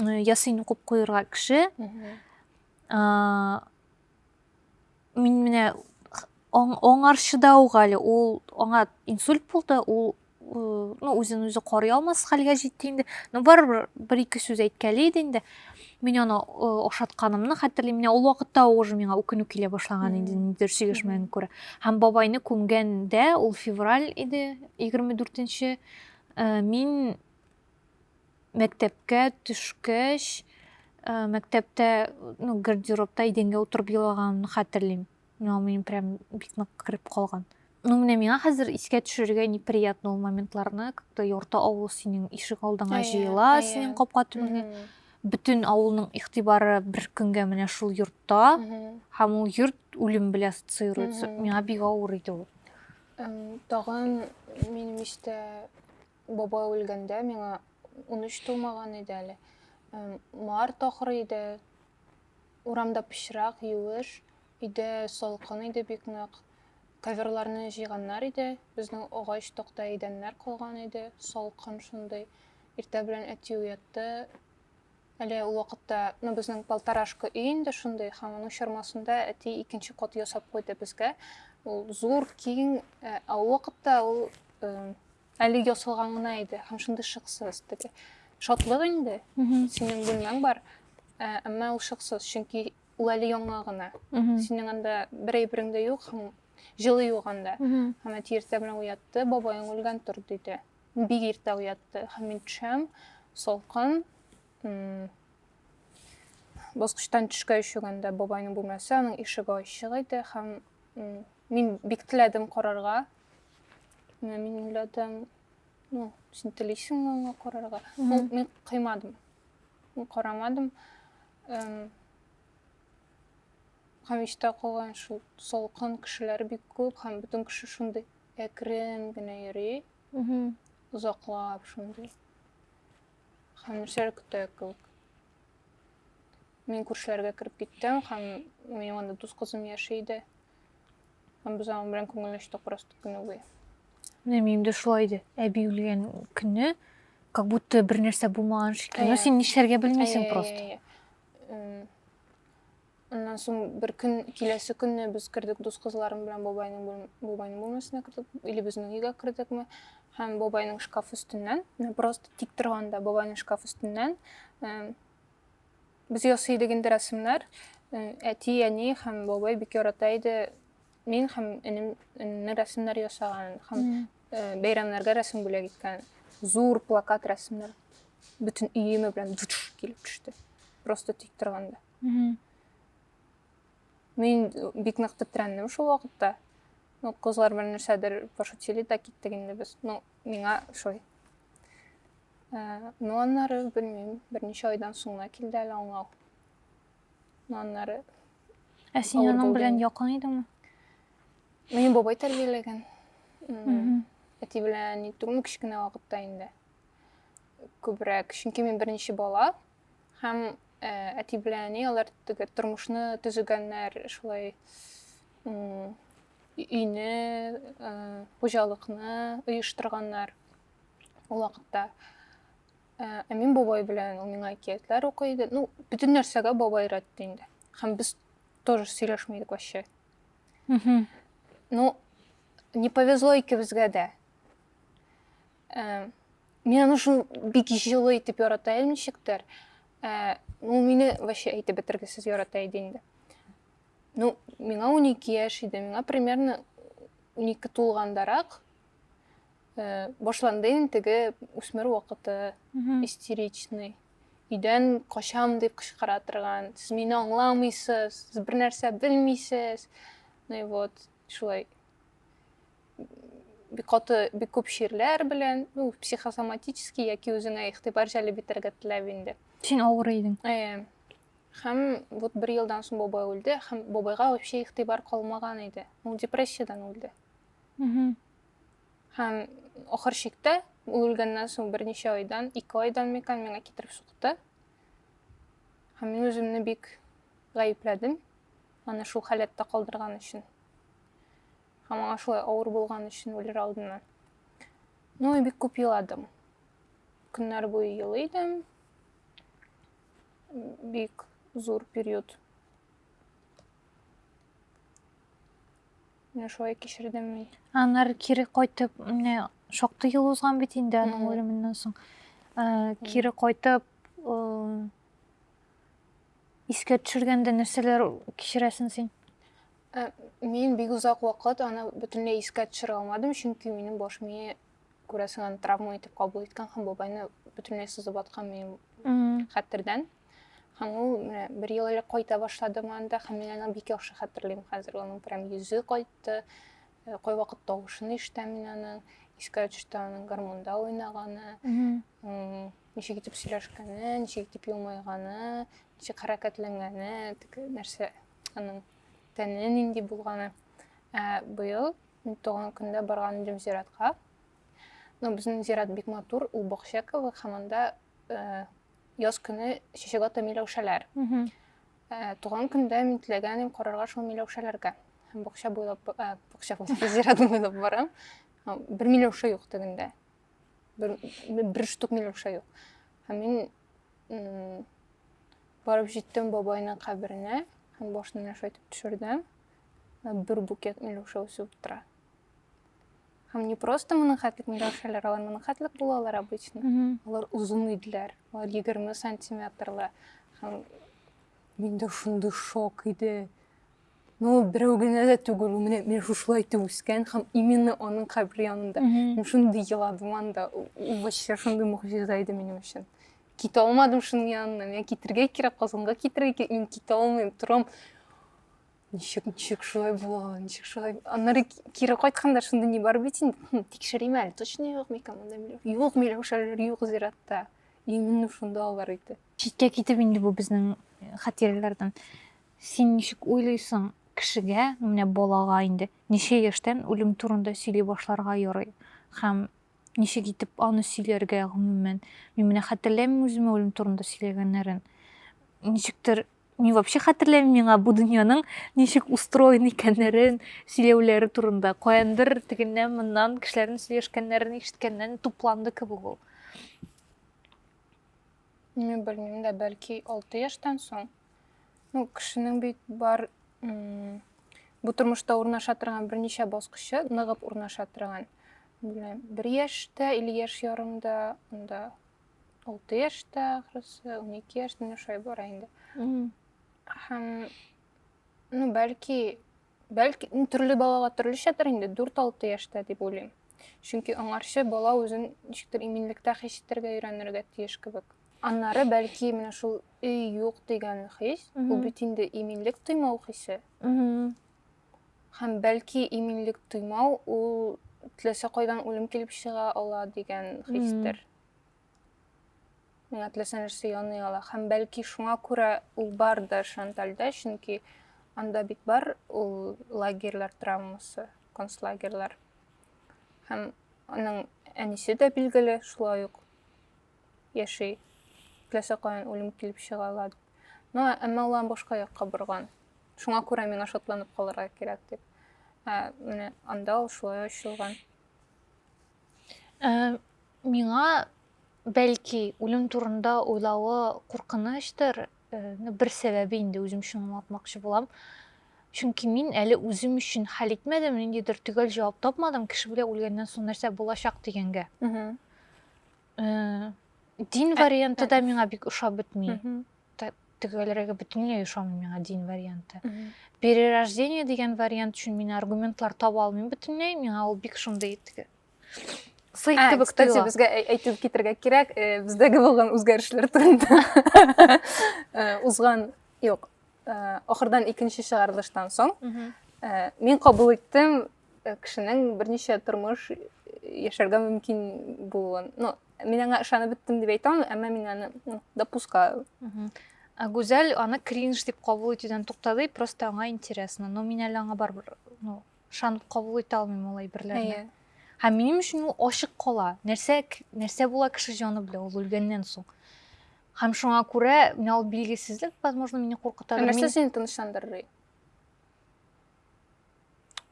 [SPEAKER 1] э, ясин укып куерга кеше мин менә аңарчыда ук әле ул аңа инсульт булды ул ну үзен үзе карый алмас хәлгә җитте инде но барыбер бер ике сүз әйткәли иде инде мин аны ошатканымны хәтерлим менә ул вакытта уже миңа үкенү килә башлаган иде нидер сөйләшмәгәнгә күрә һәм бабайны күмгәндә ул февраль иде егерме дүртенче э, мин мәктәпкә төшкәч э, мәктәптә ну гардеробта идәнгә утырып елаганымны хәтерлим Но мин прям бик нык кереп калган. Ну менә миңа хәзер искә төшерергә неприятно ул моментларны, как-то ярты авыл синең ишек алдыңа җыела, синең капка төбеңә. Бөтен авылның игътибары бер көнгә менә шул йортта, һәм ул йорт үлем белән ассоциируется. Миңа бик авыр иде ул. Тагын
[SPEAKER 2] минем иштә баба үлгәндә миңа 13 тулмаган иде әле. Март ахыры иде, Урамда пычрак, юеш, өйдә салкын иде бик нык. Коверларны җыйганнар иде, безнең агач такта идәннәр калган иде, салкын шундый. Иртә белән әти уятты. Әле ул вакытта, ну, безнең полторашка өй инде шундый, һәм аның чормасында әти икенче кат ясап куйды безгә. Ул зур, киң, ә ул вакытта ул Әле ясалган гына иде һәм шундый шыксыз. Теге шатлык инде. Синең бүлмәң бар, ә, әмма ул шыксыз, чөнки ул әле яңа гына. Синең анда бер әйберең дә юк һәм җылы юк анда. Һәм әти иртә белән уятты, бабаең үлгән тор, диде. Бик иртә уятты. Һәм мин төшәм, салкын. Баскычтан төшкәч үгәндә бабайның бүлмәсе, аның ишеге ачык иде һәм мин бик теләдем карарга, Менә мин уйладым, ну, син телисеңме аңа карарга? Ул мин кыймадым. Мин карамадым. Эм, һәм истә калган шул салкын кешеләр бик күп һәм бөтен кеше шундый әкрен генә йөри, Мгм. озаклап шундый. Һәм нәрсәләр көтә кебек. Мин күршеләргә кереп киттем һәм минем анда дус кызым яши иде. Һәм без аның белән күңелләштек просто көне буе. Менә минем дә
[SPEAKER 1] шулай иде. Әби үлгән көнне как будто бер нәрсә булмаган шикелле. Ну син нишләргә белмисең просто.
[SPEAKER 2] Аннан соң бер көн киләсе көнне без кердек дус кызларым белән бабайның бабайның бүлмәсенә кердек, или безнең өйгә кердекме? Һәм бабайның шкаф өстеннән, просто тик торганда бабайның шкаф өстеннән Без ясый идек инде рәсемнәр. Әти, әни һәм бабай бик ярата иде. Мин һәм энем энемне рәсемнәр ясаган һәм бәйрәмнәргә рәсем бүләк иткән. Зур плакат рәсемнәр. Бөтен өеме белән душ килеп төште. Просто тик торганда. Мин бик нык тетрәндем шул вакытта. Ну, кызлар белән нәрсәдер пошутили да киттек инде без. Ну, Миңа ошый. Э, ну аннары белмим, берничә айдан соң гына килде әле аңлау. Ну аннары Ә син
[SPEAKER 1] аның белән якын идеңме?
[SPEAKER 2] Мине бабай тәрбияләгән. Әти белән ни түгел, кечкенә вакытта инде. Күбрәк, чөнки мин беренче бала, Һәм э, әти белән әни алар теге тормышны төзегәннәр, шулай м, өйне, э, хуҗалыкны оештырганнар ул вакытта. Э, ә мин бабай белән ул миңа әкиятләр укый иде. Ну, бөтен нәрсәгә бабай рәтте инде. Һәм без тоже сөйләшми идек вообще. Ну, не повезло икебезгә дә. Ә, мин аны шул бик җылы итеп ярата идем ничектер. Ә, ну, мине вообще әйтеп бетергесез ярата иде инде. Ну, миңа 12 яшь иде, миңа примерно 12 тулгандарак э, башланды инде теге үсмер вакыты истеричный өйдән качам дип кычкыра торган сез мине аңламыйсыз сез бер нәрсә белмисез ну и вот шулай бик каты бик күп чирләр белән ну психосоматический яки үзеңә игътибар җәлеп итәргә теләп инде син авыр идең
[SPEAKER 1] э, һәм
[SPEAKER 2] вот бер елдан соң бабай үлде һәм бабайга вообще игътибар калмаган иде ул депрессиядән үлде һәм ахыр чиктә ул үлгәннән соң берничә айдан ике айдан микән миңа китереп сукты һәм мин үземне бик гаепләдем Аны шул халәттә калдырган өчен. Һәм аңа шулай авыр булган өчен үлер алдыннан. Ну, и бик күп еладым. Көннәр буе елый идем. Бик зур период. Менә шулай кичердем мин. Аннары кире
[SPEAKER 1] кайтып, менә шактый ел узган бит инде аның үлеменнән соң. Кире кайтып, Искә төшергәндә нәрсәләр кичерәсең син? Ә,
[SPEAKER 2] мин бик озак вакыт аны бөтенләй искә төшерә алмадым, чөнки минем баш мие күрәсең аны травма итеп кабул иткән һәм бабайны бөтенләй сызып аткан минем хәтердән. Һәм ул менә бер ел элек кайта башлады монда һәм мин аны бик яхшы хәтерлим хәзер. Аның прям йөзе кайтты, Э, кайвакыт тавышын ишетәм мин аның искә төште аның гармунда уйнаганы ничек итеп сөйләшкәне ничек итеп елмайганы ничек хәрәкәтләнгәне теге нәрсә аның тәне нинди булганы ә быел туган көндә барган идем зиратка но безнең зират бик матур ул бакча кебек һәм анда э, яз көне чәчәк ата миләүшәләр Ә, туган көндә мин теләгән идем карарга шул миләүшәләргә. Һәм бакча буйлап, ә, бакча буйлап, зиратны буйлап барам. Бер миләүшә юк тегендә. Бер, бер штук миләүшә юк. Һәм мин барып җиттем бабайның каберенә һәм башын миләүшә итеп төшердем. Бер букет миләүшә үсеп тора. Һәм не просто монахатлык миләүшәләр, алар монахатлык булалар обычно. Алар озын иделәр. Алар 20 сантиметрлы. Һәм мин дә шундый шок иде. Ну, берәү генә дә түгел, ул менә мин шушылай итеп үскән һәм именно аның кабере янында. Мин шундый еладым анда. Ул вообще шундый могҗиза иде минем өчен. Китә алмадым шуның янына. Миңа китергә кирәк, Казанга китергә кирәк. Мин китә алмыйм, торам. ничек ничек шулай була ничек шулай аннары кире кайтканда шундый ни бар бит инде тикшерим әле точно юкмы икән монда юк миләүшәләр юк зиратта именно шунда алар иде читкә китеп инде бу
[SPEAKER 1] безнең э, хатирәләрдән син ничек уйлыйсың кешегә менә балага инде ничә яшьтән үлем турында сөйли башларга ярый һәм ничек итеп аны сөйләргә гомумән мин менә хәтерләмим үземә үлем турында сөйләгәннәрен ничектер Мин вообще хәтерләмим миңа бу дөньяның ничек устроен икәннәрен сөйләүләре турында. Каяндыр тегеннән моннан кешеләрнең сөйләшкәннәрен ишеткәннән тупланды кебек ул.
[SPEAKER 2] Мин белмим дә, бәлки 6 яшьтән соң. Ну, кешенең бит бар бу тормышта урнаша торган берничә баскычы ныгып урнаша торган. Бер яшьтә или яшь ярымда, анда алты яшьтә ахрысы унике яшьтә менә шулай бара инде һәм ну бәлки бәлки төрле балага төрлечәдер инде дүрт алты яшьтә дип уйлыйм чөнки аңарчы бала үзен ничектер иминлектә хис итәргә өйрәнергә тиеш кебек аннары бәлки менә шул өй юк дигән хис ул бит инде иминлек тоймау хисе һәм бәлки иминлек тоймау ул теләсә кайдан үлем килеп чыга ала дигән хистер Миңа теләсә нәрсә яный ала. Һәм бәлки шуңа күрә ул бардыр Шантальдә, чөнки анда бит бар ул лагерьлар травмасы, концлагерьлар. Һәм аның әнисе дә билгеле шулай ук яши. Теләсә каян үлем килеп чыга ала. Но әмма ул башка якка борган. Шуңа күрә миңа шатланып калырга кирәк дип. Ә менә анда ул шулай ачылган. Ә,
[SPEAKER 1] миңа бәлки үлем турында уйлавы куркыныштыр, бер сәбәбе инде үзем өчен аңлатмакчы булам. Чөнки мин әле үзем өчен хәл итмәдем, ниндидер төгәл җавап тапмадым, кеше белән үлгәннән соң нәрсә булачак дигәнгә. Дин варианты да миңа бик ошап бетми. төгәлрәге бөтенләй ошамый миңа дин варианты перерождение дигән вариант өчен мин аргументлар таба алмыйм бөтенләй миңа ул бик шундый теге сый ә, кебек кстати тоела. безгә әйтеп китергә
[SPEAKER 2] кирәк э, бездәге булган үзгәрешләр турында э, узган юк э, ахырдан икенче чыгарылыштан соң мин кабул иттем Э, кешенең берничә тормыш э, яшәргә мөмкин булуын ну мин аңа ышанып беттем дип әйтә алмыйм әмма мин аны ну, допускаю ә
[SPEAKER 1] гүзәл аны кринж дип кабул итүдән туктады просто аңа интересно но мин әле аңа барыбер ну ышанып кабул итә алмыйм ул әйберләрне иә. һәм минем өчен ул ачык кала нәрсә нәрсә була кеше җаны белән ул үлгәннән соң һәм шуңа күрә мен ул билгесезлек возможно мине куркытадыр нәрсә сине тынычландырыр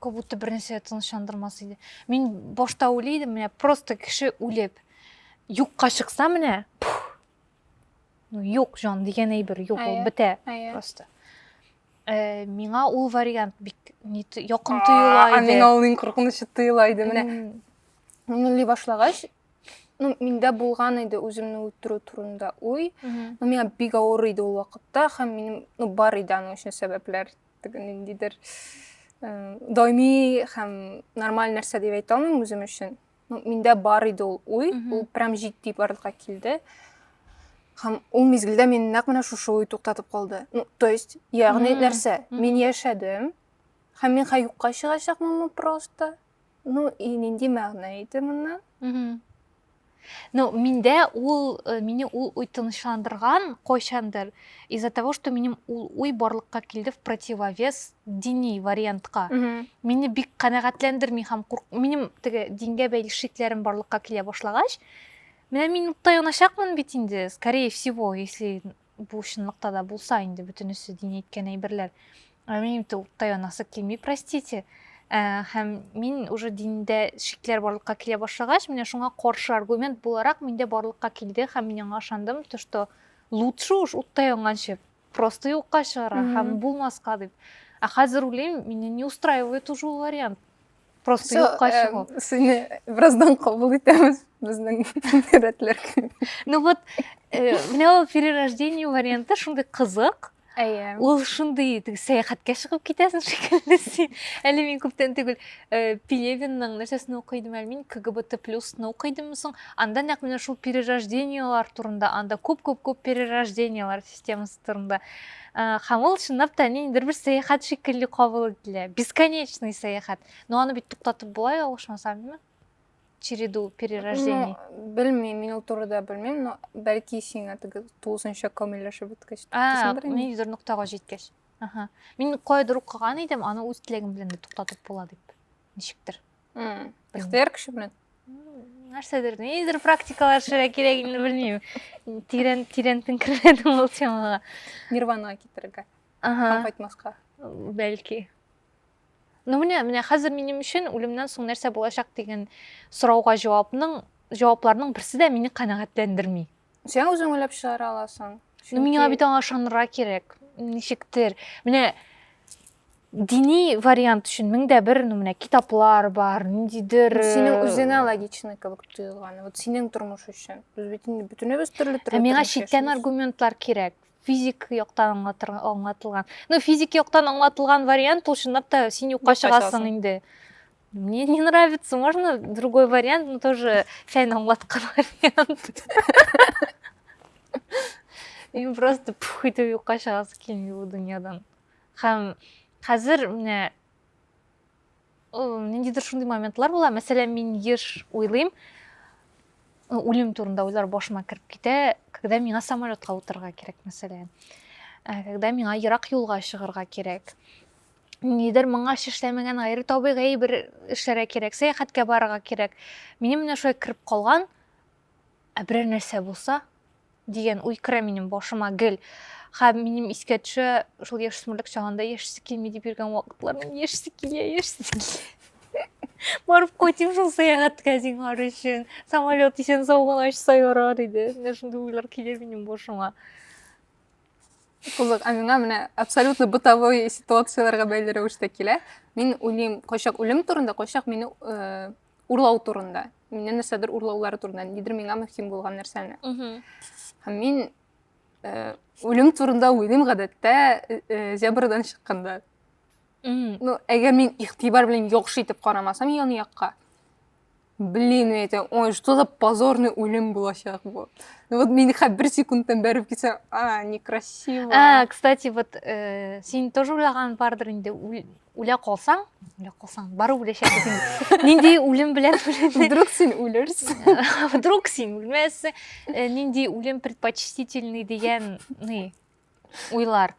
[SPEAKER 1] как будто бер нәрсә тынычландырмас иде мин башта уйлый идем менә просто кеше үлеп юкка чыкса менә ну юк жан дигән әйбер юк ул бетә просто э, миңа ул вариант бик якын тоела иде а миңа ул иң куркынычы
[SPEAKER 2] тоела иде менә уйлый башлагач ну миндә булган иде үземне үтерү турында уй ну миңа бик авыр иде ул вакытта һәм минем ну бар иде аның өчен сәбәпләр Бүген ниндидер даими һәм нормаль нәрсә дип әйтә алмыйм үзем өчен. Ну, миндә бар иде ул уй, ул прям җитди барлыкка килде. Һәм ул мизгелдә мин нәкъ менә шушы уй туктатып калды. Ну, то есть, ягъни нәрсә? Мин яшәдем. Һәм мин хәй юкка чыгачакмынмы просто? Ну, и нинди мәгънә иде моннан?
[SPEAKER 1] Ну, миндә ул, э, мине ул уй тынычландырган кайчандыр, из-за того, что минем ул уй барлыкка килде в противовес дини вариантка. Мине бик канәгатьләндерми һәм курк... минем теге дингә бәйле шикләрем барлыкка килә башлагач, менә мин утта яначакмын бит инде, скорее всего, если Бу чынлыкта да булса инде бөтенесе дин әйткән әйберләр. Ә минем инде утта янасы килми, простите. Ә, һәм мин уже диндә шикләр барлыкка килә башлагач, менә шуңа каршы аргумент буларак миндә барлыкка килде һәм мин аңа ышандым, то что лучше уж утта янганчы просто юкка чыгарга һәм булмаска дип. Ә хәзер уйлыйм, мине не устраивает уже ул вариант. Просто Всё, юкка эм, чыгу. Сине бераздан
[SPEAKER 2] кабул итәбез безнең рәтләр. Ну вот,
[SPEAKER 1] э, менә ул перерождение варианты шундый кызык. Әйе. Ул шундый теге сәяхәткә чыгып китәсең шикелле син. Әле мин күптән түгел э, Пелевинның нәрсәсен укый идем, әле мин КГБТ плюсны укый идемме соң. Анда нәкъ менә шул перерождениелар турында, анда күп-күп-күп перерождениелар системасы турында. Һәм ул чынлап та ниндидер бер сәяхәт шикелле кабул ителә. Бесконечный сәяхәт. Но аны бит туктатып була, ялгышмасам, димме? Череду перерождений. Ну, белмим, мин ул
[SPEAKER 2] турыда белмим, но бәлки сиңа теге 9нчы камилләшеп беткәч. А, ниндидер ноктага
[SPEAKER 1] җиткәч. Ага. Мин кайдыр укыган идем, аны үз теләгем белән дә туктатып була дип. ничектер бәхтияр кеше белән нәрсәдер нидер практикалар эшләргә кирәк инде белмеймін тирән тирән теңкермәдім ол темаға нирванаға
[SPEAKER 2] китерергә һәм кайтмасқа бәлки
[SPEAKER 1] ну менә менә хәзер минем өчен үлемнән соң нәрсә булачак дигән сорауга җавапның җавапларның берсе дә мине канәгатьләндерми Сен үзең уйлап
[SPEAKER 2] чыгара аласың. Чөнки... Миңа бит аңа
[SPEAKER 1] ышанырга кирәк. Ничектер. Менә дини вариант өчен мең дә бер ну менә китаплар бар ниндидер синең үзеңә
[SPEAKER 2] логичный кебек тоелган вот синең тормыш өчен без бит инде бөтенебез төрле төрле миңа читтән
[SPEAKER 1] аргументлар кирәк физик яктан аңлатылган ну физик яктан аңлатылган вариант ул чынлап та син юкка чыгасың инде Мне не нравится, можно другой вариант, но тоже чай на аңлатқан вариант. Мен просто пух итеп юкка чыгасы келмей бул дөньядан. Хәм хәзер менә ниндидер шундый моментлар була. Мәсәлән, мин еш уйлыйм, үлем турында уйлар башыма кереп китә, когда миңа самолетка утырырга кирәк, мәсәлән. Когда миңа ерак юлга чыгарга кирәк. нидер моңа эшләмәгән гайре табигый бер эшләргә кирәк сәяхәткә барырга кирәк минем менә шулай кереп калган ә берәр нәрсә булса дигән уй керә минем башыма гел һәм минем искә төшә шул яшүсмерлек чагында яшисе килми дип йөргән вакытлар мин яшисе килә яшисе килә барып кайтыйм шул сәяхәткә зинһар өчен самолет исән сау гына очса ярар иде менә шундый уйлар килә минем башыма
[SPEAKER 2] Кызык, ә миңа менә абсолютно бытовой ситуацияләргә бәйле рәвештә килә. Мин уйлыйм, кайчак үлем турында, кайчак мине э, урлау турында. Миннән нәрсәдер урлаулары турында, нидер миңа мөһим булган нәрсәне. Һәм мин э, үлем турында уйлыйм гадәттә э, э, зебрадан чыкканда. Ну, әгәр мин игътибар белән яхшы итеп карамасам яны якка, Блин, әйтә, ой, что за позорный үлем булачак бу. Ну вот мин хәп бер секундтан бәреп китсәм, а, некрасиво. А, кстати, вот
[SPEAKER 1] э, син тоже уйлаган бардыр инде, үлә калсаң, үлә калсаң, бары үләчәксең инде. Нинди үлем белән үләсең? Вдруг син
[SPEAKER 2] үлерсең. Вдруг син
[SPEAKER 1] үлмәссең. Э, нинди үлем предпочтительный дигән, ни, уйлар.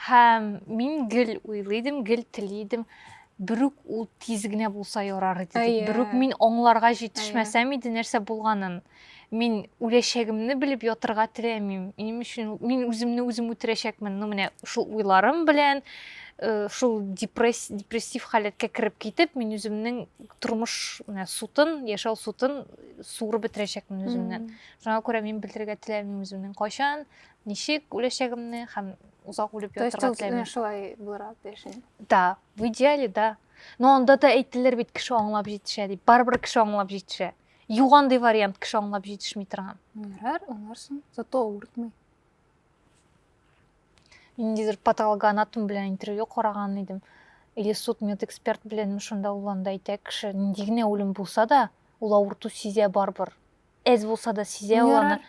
[SPEAKER 1] Һәм мин гел уйлыйдым, гел телидем. Берүк ул тиз генә булса ярар иде. Әйе. Берүк мин аңларга җитешмәсәм иде нәрсә булганын. Мин үләчәгемне белеп ятырга теләмим. Минем өчен мин үземне үзем үтерәчәкмен. Ну менә шул уйларым белән э, шул депресс, депрессив халәткә кереп китеп, мин үземнең тормыш менә сутын, яшәү сутын суырып бетерәчәкмен үземнән. Шуңа күрә мин белергә теләмим үземнең кайчан Ничек үләчәгемне һәм озак үлеп ятырга теләмим. Шулай
[SPEAKER 2] булырга тиеш. Да, в идеале,
[SPEAKER 1] да. Но анда да әйттеләр бит кеше аңлап җитешә дип. Барыбер кеше аңлап җитешә. Югандый вариант кеше аңлап җитешми торган. Ярар, аңларсың.
[SPEAKER 2] Зато авыртмый.
[SPEAKER 1] Ниндидер патологоанатом белән интервью караган идем. Или суд медэксперт белән шунда ул анда әйтә кеше, нинди генә үлем булса да, ул авырту сизә барыбер. Әз булса да сизә ул аны.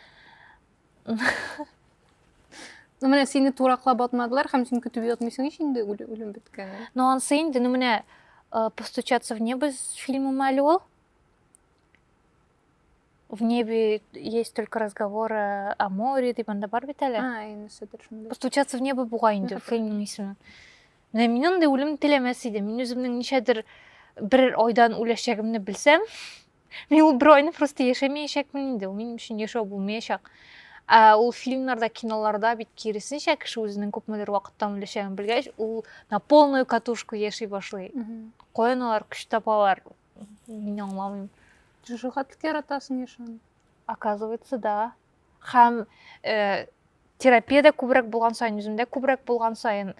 [SPEAKER 2] Ну менә сине тураклап атмадылар һәм син көтеп ятмыйсың ич инде үлем беткәнен. Ну ансы инде, ну менә
[SPEAKER 1] э, постучаться в небо фильмы мәле ул. В небе есть только разговоры о море дип анда бар бит әле. А, инде сөдер шунда. Постучаться в небо буга инде фильмның исеме. Менә мин андый үлем теләмәс идем. Мин үземнең ничәдер бер айдан үләчәгемне белсәм, Мин ул бер айны просто яшәмәячәкмен инде, ул минем өчен яшәү булмаячак. Ә ул фильмнарда, киноларда бит киресенчә кеше үзенең күпмедер вакыттан үләчәген белгәч, ул на полную катушку яши башлый. Каян алар көч табалар? Мин аңламыйм. Җыжыга тик
[SPEAKER 2] яратасың яшәүне. Оказывается,
[SPEAKER 1] да. Һәм э, терапиядә күбрәк булган саен, үземдә күбрәк булган саен,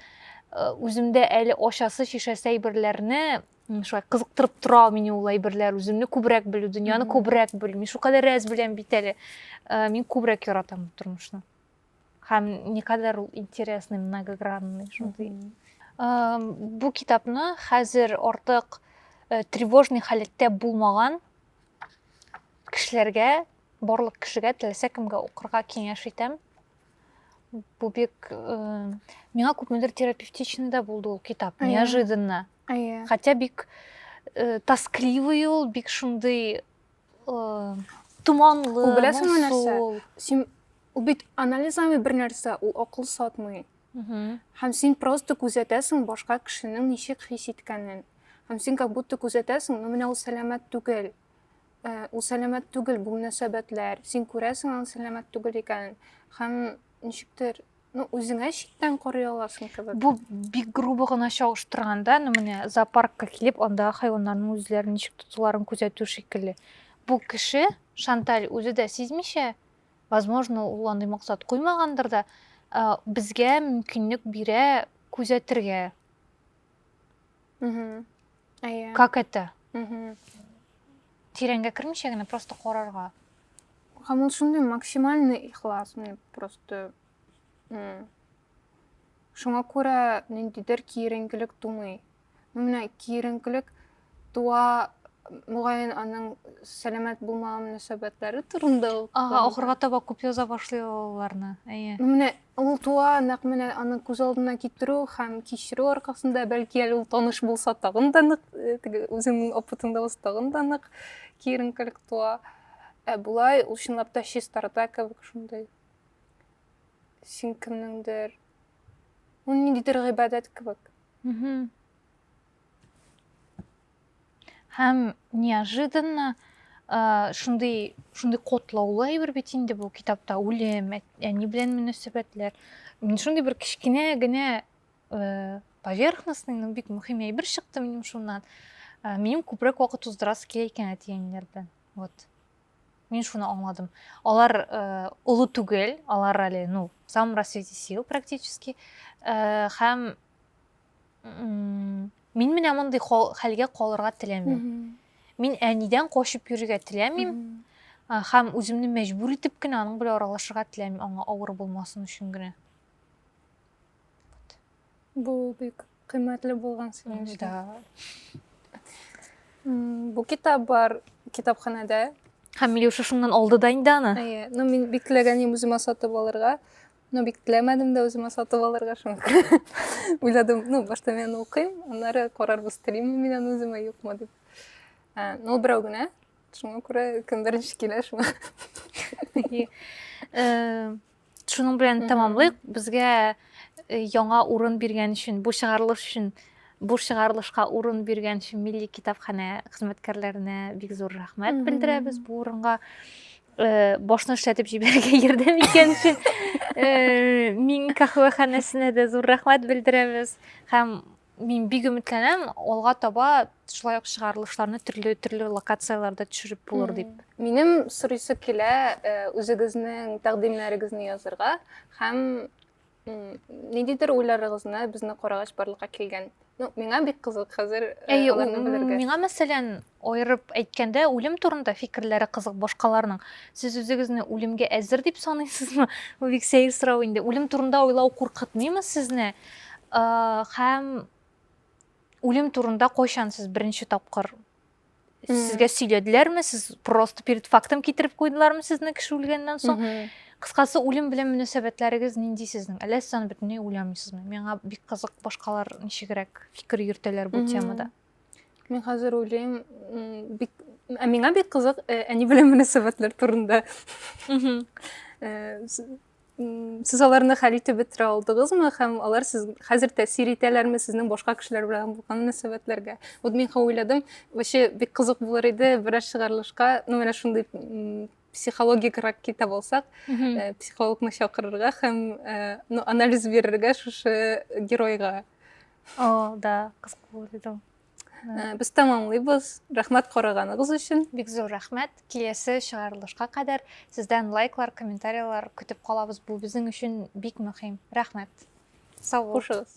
[SPEAKER 1] э, үземдә әле ачасы, шешәсе әйберләрне шулай кызыктырып тора ул мине ул әйберләр, үземне күбрәк белү, дөньяны күбрәк белү. Мин шулкадәр әз беләм бит әле. Э, мин күбрәк яратам тормышны. Һәм никадәр ул интересный, многогранный, шундый. Э, бу китапны хәзер артык тревожный халәттә булмаган кешеләргә Барлык кешегә теләсә кемгә укырга киңәш итәм. Бу бик э, миңа күпмедер терапевтичный да булды ул китап, Әйе. неожиданно. Әйе. Хотя бик э, тоскливый ул, бик шундый э, томанлы, Ул беләсеңме нәрсә? моңсу.
[SPEAKER 2] Син ул бит анализ алмый бер нәрсә, ул акыл сатмый. Мгм. Һәм син просто күзәтәсең башка кешенең ничек хис иткәнен. Һәм син как будто күзәтәсең, ну менә ул сәламәт түгел. Ә, ул сәламәт түгел бу мөнәсәбәтләр. Син күрәсең аның сәламәт түгел икәнен һәм ничектер ну үзеңә читтән карый аласың кебек бу бик грубо
[SPEAKER 1] гына чагыштырганда ну менә зоопаркка килеп анда хайваннарның үзләрен ничек тотуларын күзәтү шикелле бу кеше шанталь үзе дә сизмичә возможно ул андый максат куймагандыр да ә, безгә мөмкинлек бирә күзәтергә
[SPEAKER 2] Угу. Ая. Как это?
[SPEAKER 1] Угу. Тирәнгә кермичә генә просто карарга. Һәм ул
[SPEAKER 2] шундый максимальный ихлас, мені просто шуңа күрә ниндидер киеренкелек тумый ну менә киеренкелек туа мөгаен аның сәламәт булмау мөнәсәбәтләре турында ага ахырга таба күп
[SPEAKER 1] яза башлый аларны әйе ну менә Ул туа,
[SPEAKER 2] нәкъ менә аны күз алдына китерү һәм кичерү аркасында, бәлки әле ул таныш булса, тагын да нык, теге үзеңнең опытыңда булса, тагын да нык киеренкелек туа. Ә болай ул чынлап та чистарта кебек шундый. Син кемнеңдер, ул ниндидер гыйбадәт кебек.
[SPEAKER 1] һәм неожиданно шундый шундый котлаулы әйбер бит инде бу китапта үлем әни белән мөнәсәбәтләр мин шундый бер кечкенә генә поверхностный но бик мөһим әйбер чыкты минем шуннан минем күбрәк вакыт уздырасы килә икән әти әниләр белән вот мин шуны аңладым алар олы түгел алар әле ну в самом расцвете сил практически һәм мин менә мондый хәлгә калырга теләмим мин әнидән качып йөрергә теләмим һәм үземне мәҗбүр итеп кенә аның белән аралашырга теләмим аңа авыр булмасын өчен генә
[SPEAKER 2] бу бик кыйммәтле булган синең да бу китап бар китапханәдә һәм милеша
[SPEAKER 1] шуннан алды да инде аны әйе ну мин бик теләгән
[SPEAKER 2] идем үземә сатып алырга Ну, бик теләмәдем дә үземә сатып алырга, шуңа уйладым, ну, башта мен укыйм, аннары карарбыз, телимме мин аны үземә, юкмы дип. Ә, ну, берәү генә, шуңа күрә кем беренче килә, шуңа. Э,
[SPEAKER 1] шуның белән тәмамлыйк. Безгә э, яңа урын биргән өчен, бу чыгарылыш өчен бу чыгарылышка урын биргән өчен милли китапханә хезмәткәрләренә бик зур рәхмәт белдерәбез бу урынга Э, башны эшләтеп җибәрергә ярдәм иткән өчен э, мин каһвәханәсенә дә зур рәхмәт белдерәбез һәм мин бик өметләнәм алга таба шулай ук чыгарылышларны төрле төрле локацияләрдә төшереп булыр дип минем сорыйсы
[SPEAKER 2] килә э, үзегезнең тәкъдимнәрегезне язырга һәм ниндидер уйларыгызны безне карагач барлыкка килгән ну миңа бик кызык хәзер э, әйе миңа мәсәлән
[SPEAKER 1] айырып әйткәндә үлем турында фикерләре кызык башкаларның сез үзегезне үлемгә әзер дип саныйсызмы бу бик сәер сорау инде үлем турында уйлау куркытмыймы сезне һәм үлем турында кайчан сез беренче тапкыр Сезгә сөйләделәрме? Сез просто перед фактом китереп куйдылармы сезне кеше үлгәннән соң? Кыскасы, үлем белән мөнәсәбәтләрегез нинди сезнең? Әллә сез аны бөтенләй уйламыйсызмы? Миңа бик кызык башкалар ничегрәк фикер йөртәләр бу темада. Мин хәзер
[SPEAKER 2] уйлыйм, бик ә миңа бик кызык әни белән мөнәсәбәтләр турында. Сез аларны хәл итеп бетерә алдыгызмы һәм алар сез хәзер тәэсир итәләрме сезнең башка кешеләр белән булган мөнәсәбәтләргә? Вот мин хәзер уйладым, вообще бик кызык булыр иде берәр чыгарылышка, ну менә шундый психологикрак китап алсак, э, психологны чакырырга һәм э, ну, анализ бирергә шушы геройга. О,
[SPEAKER 1] да, кызык булыр иде. Э, без
[SPEAKER 2] тәмамлыйбыз рәхмәт караганыгыз өчен бик зур рәхмәт
[SPEAKER 1] киләсе чыгарылышка кадәр сездән лайклар комментарийлар көтеп калабыз бу безнең өчен бик мөһим рәхмәт сау булыгыз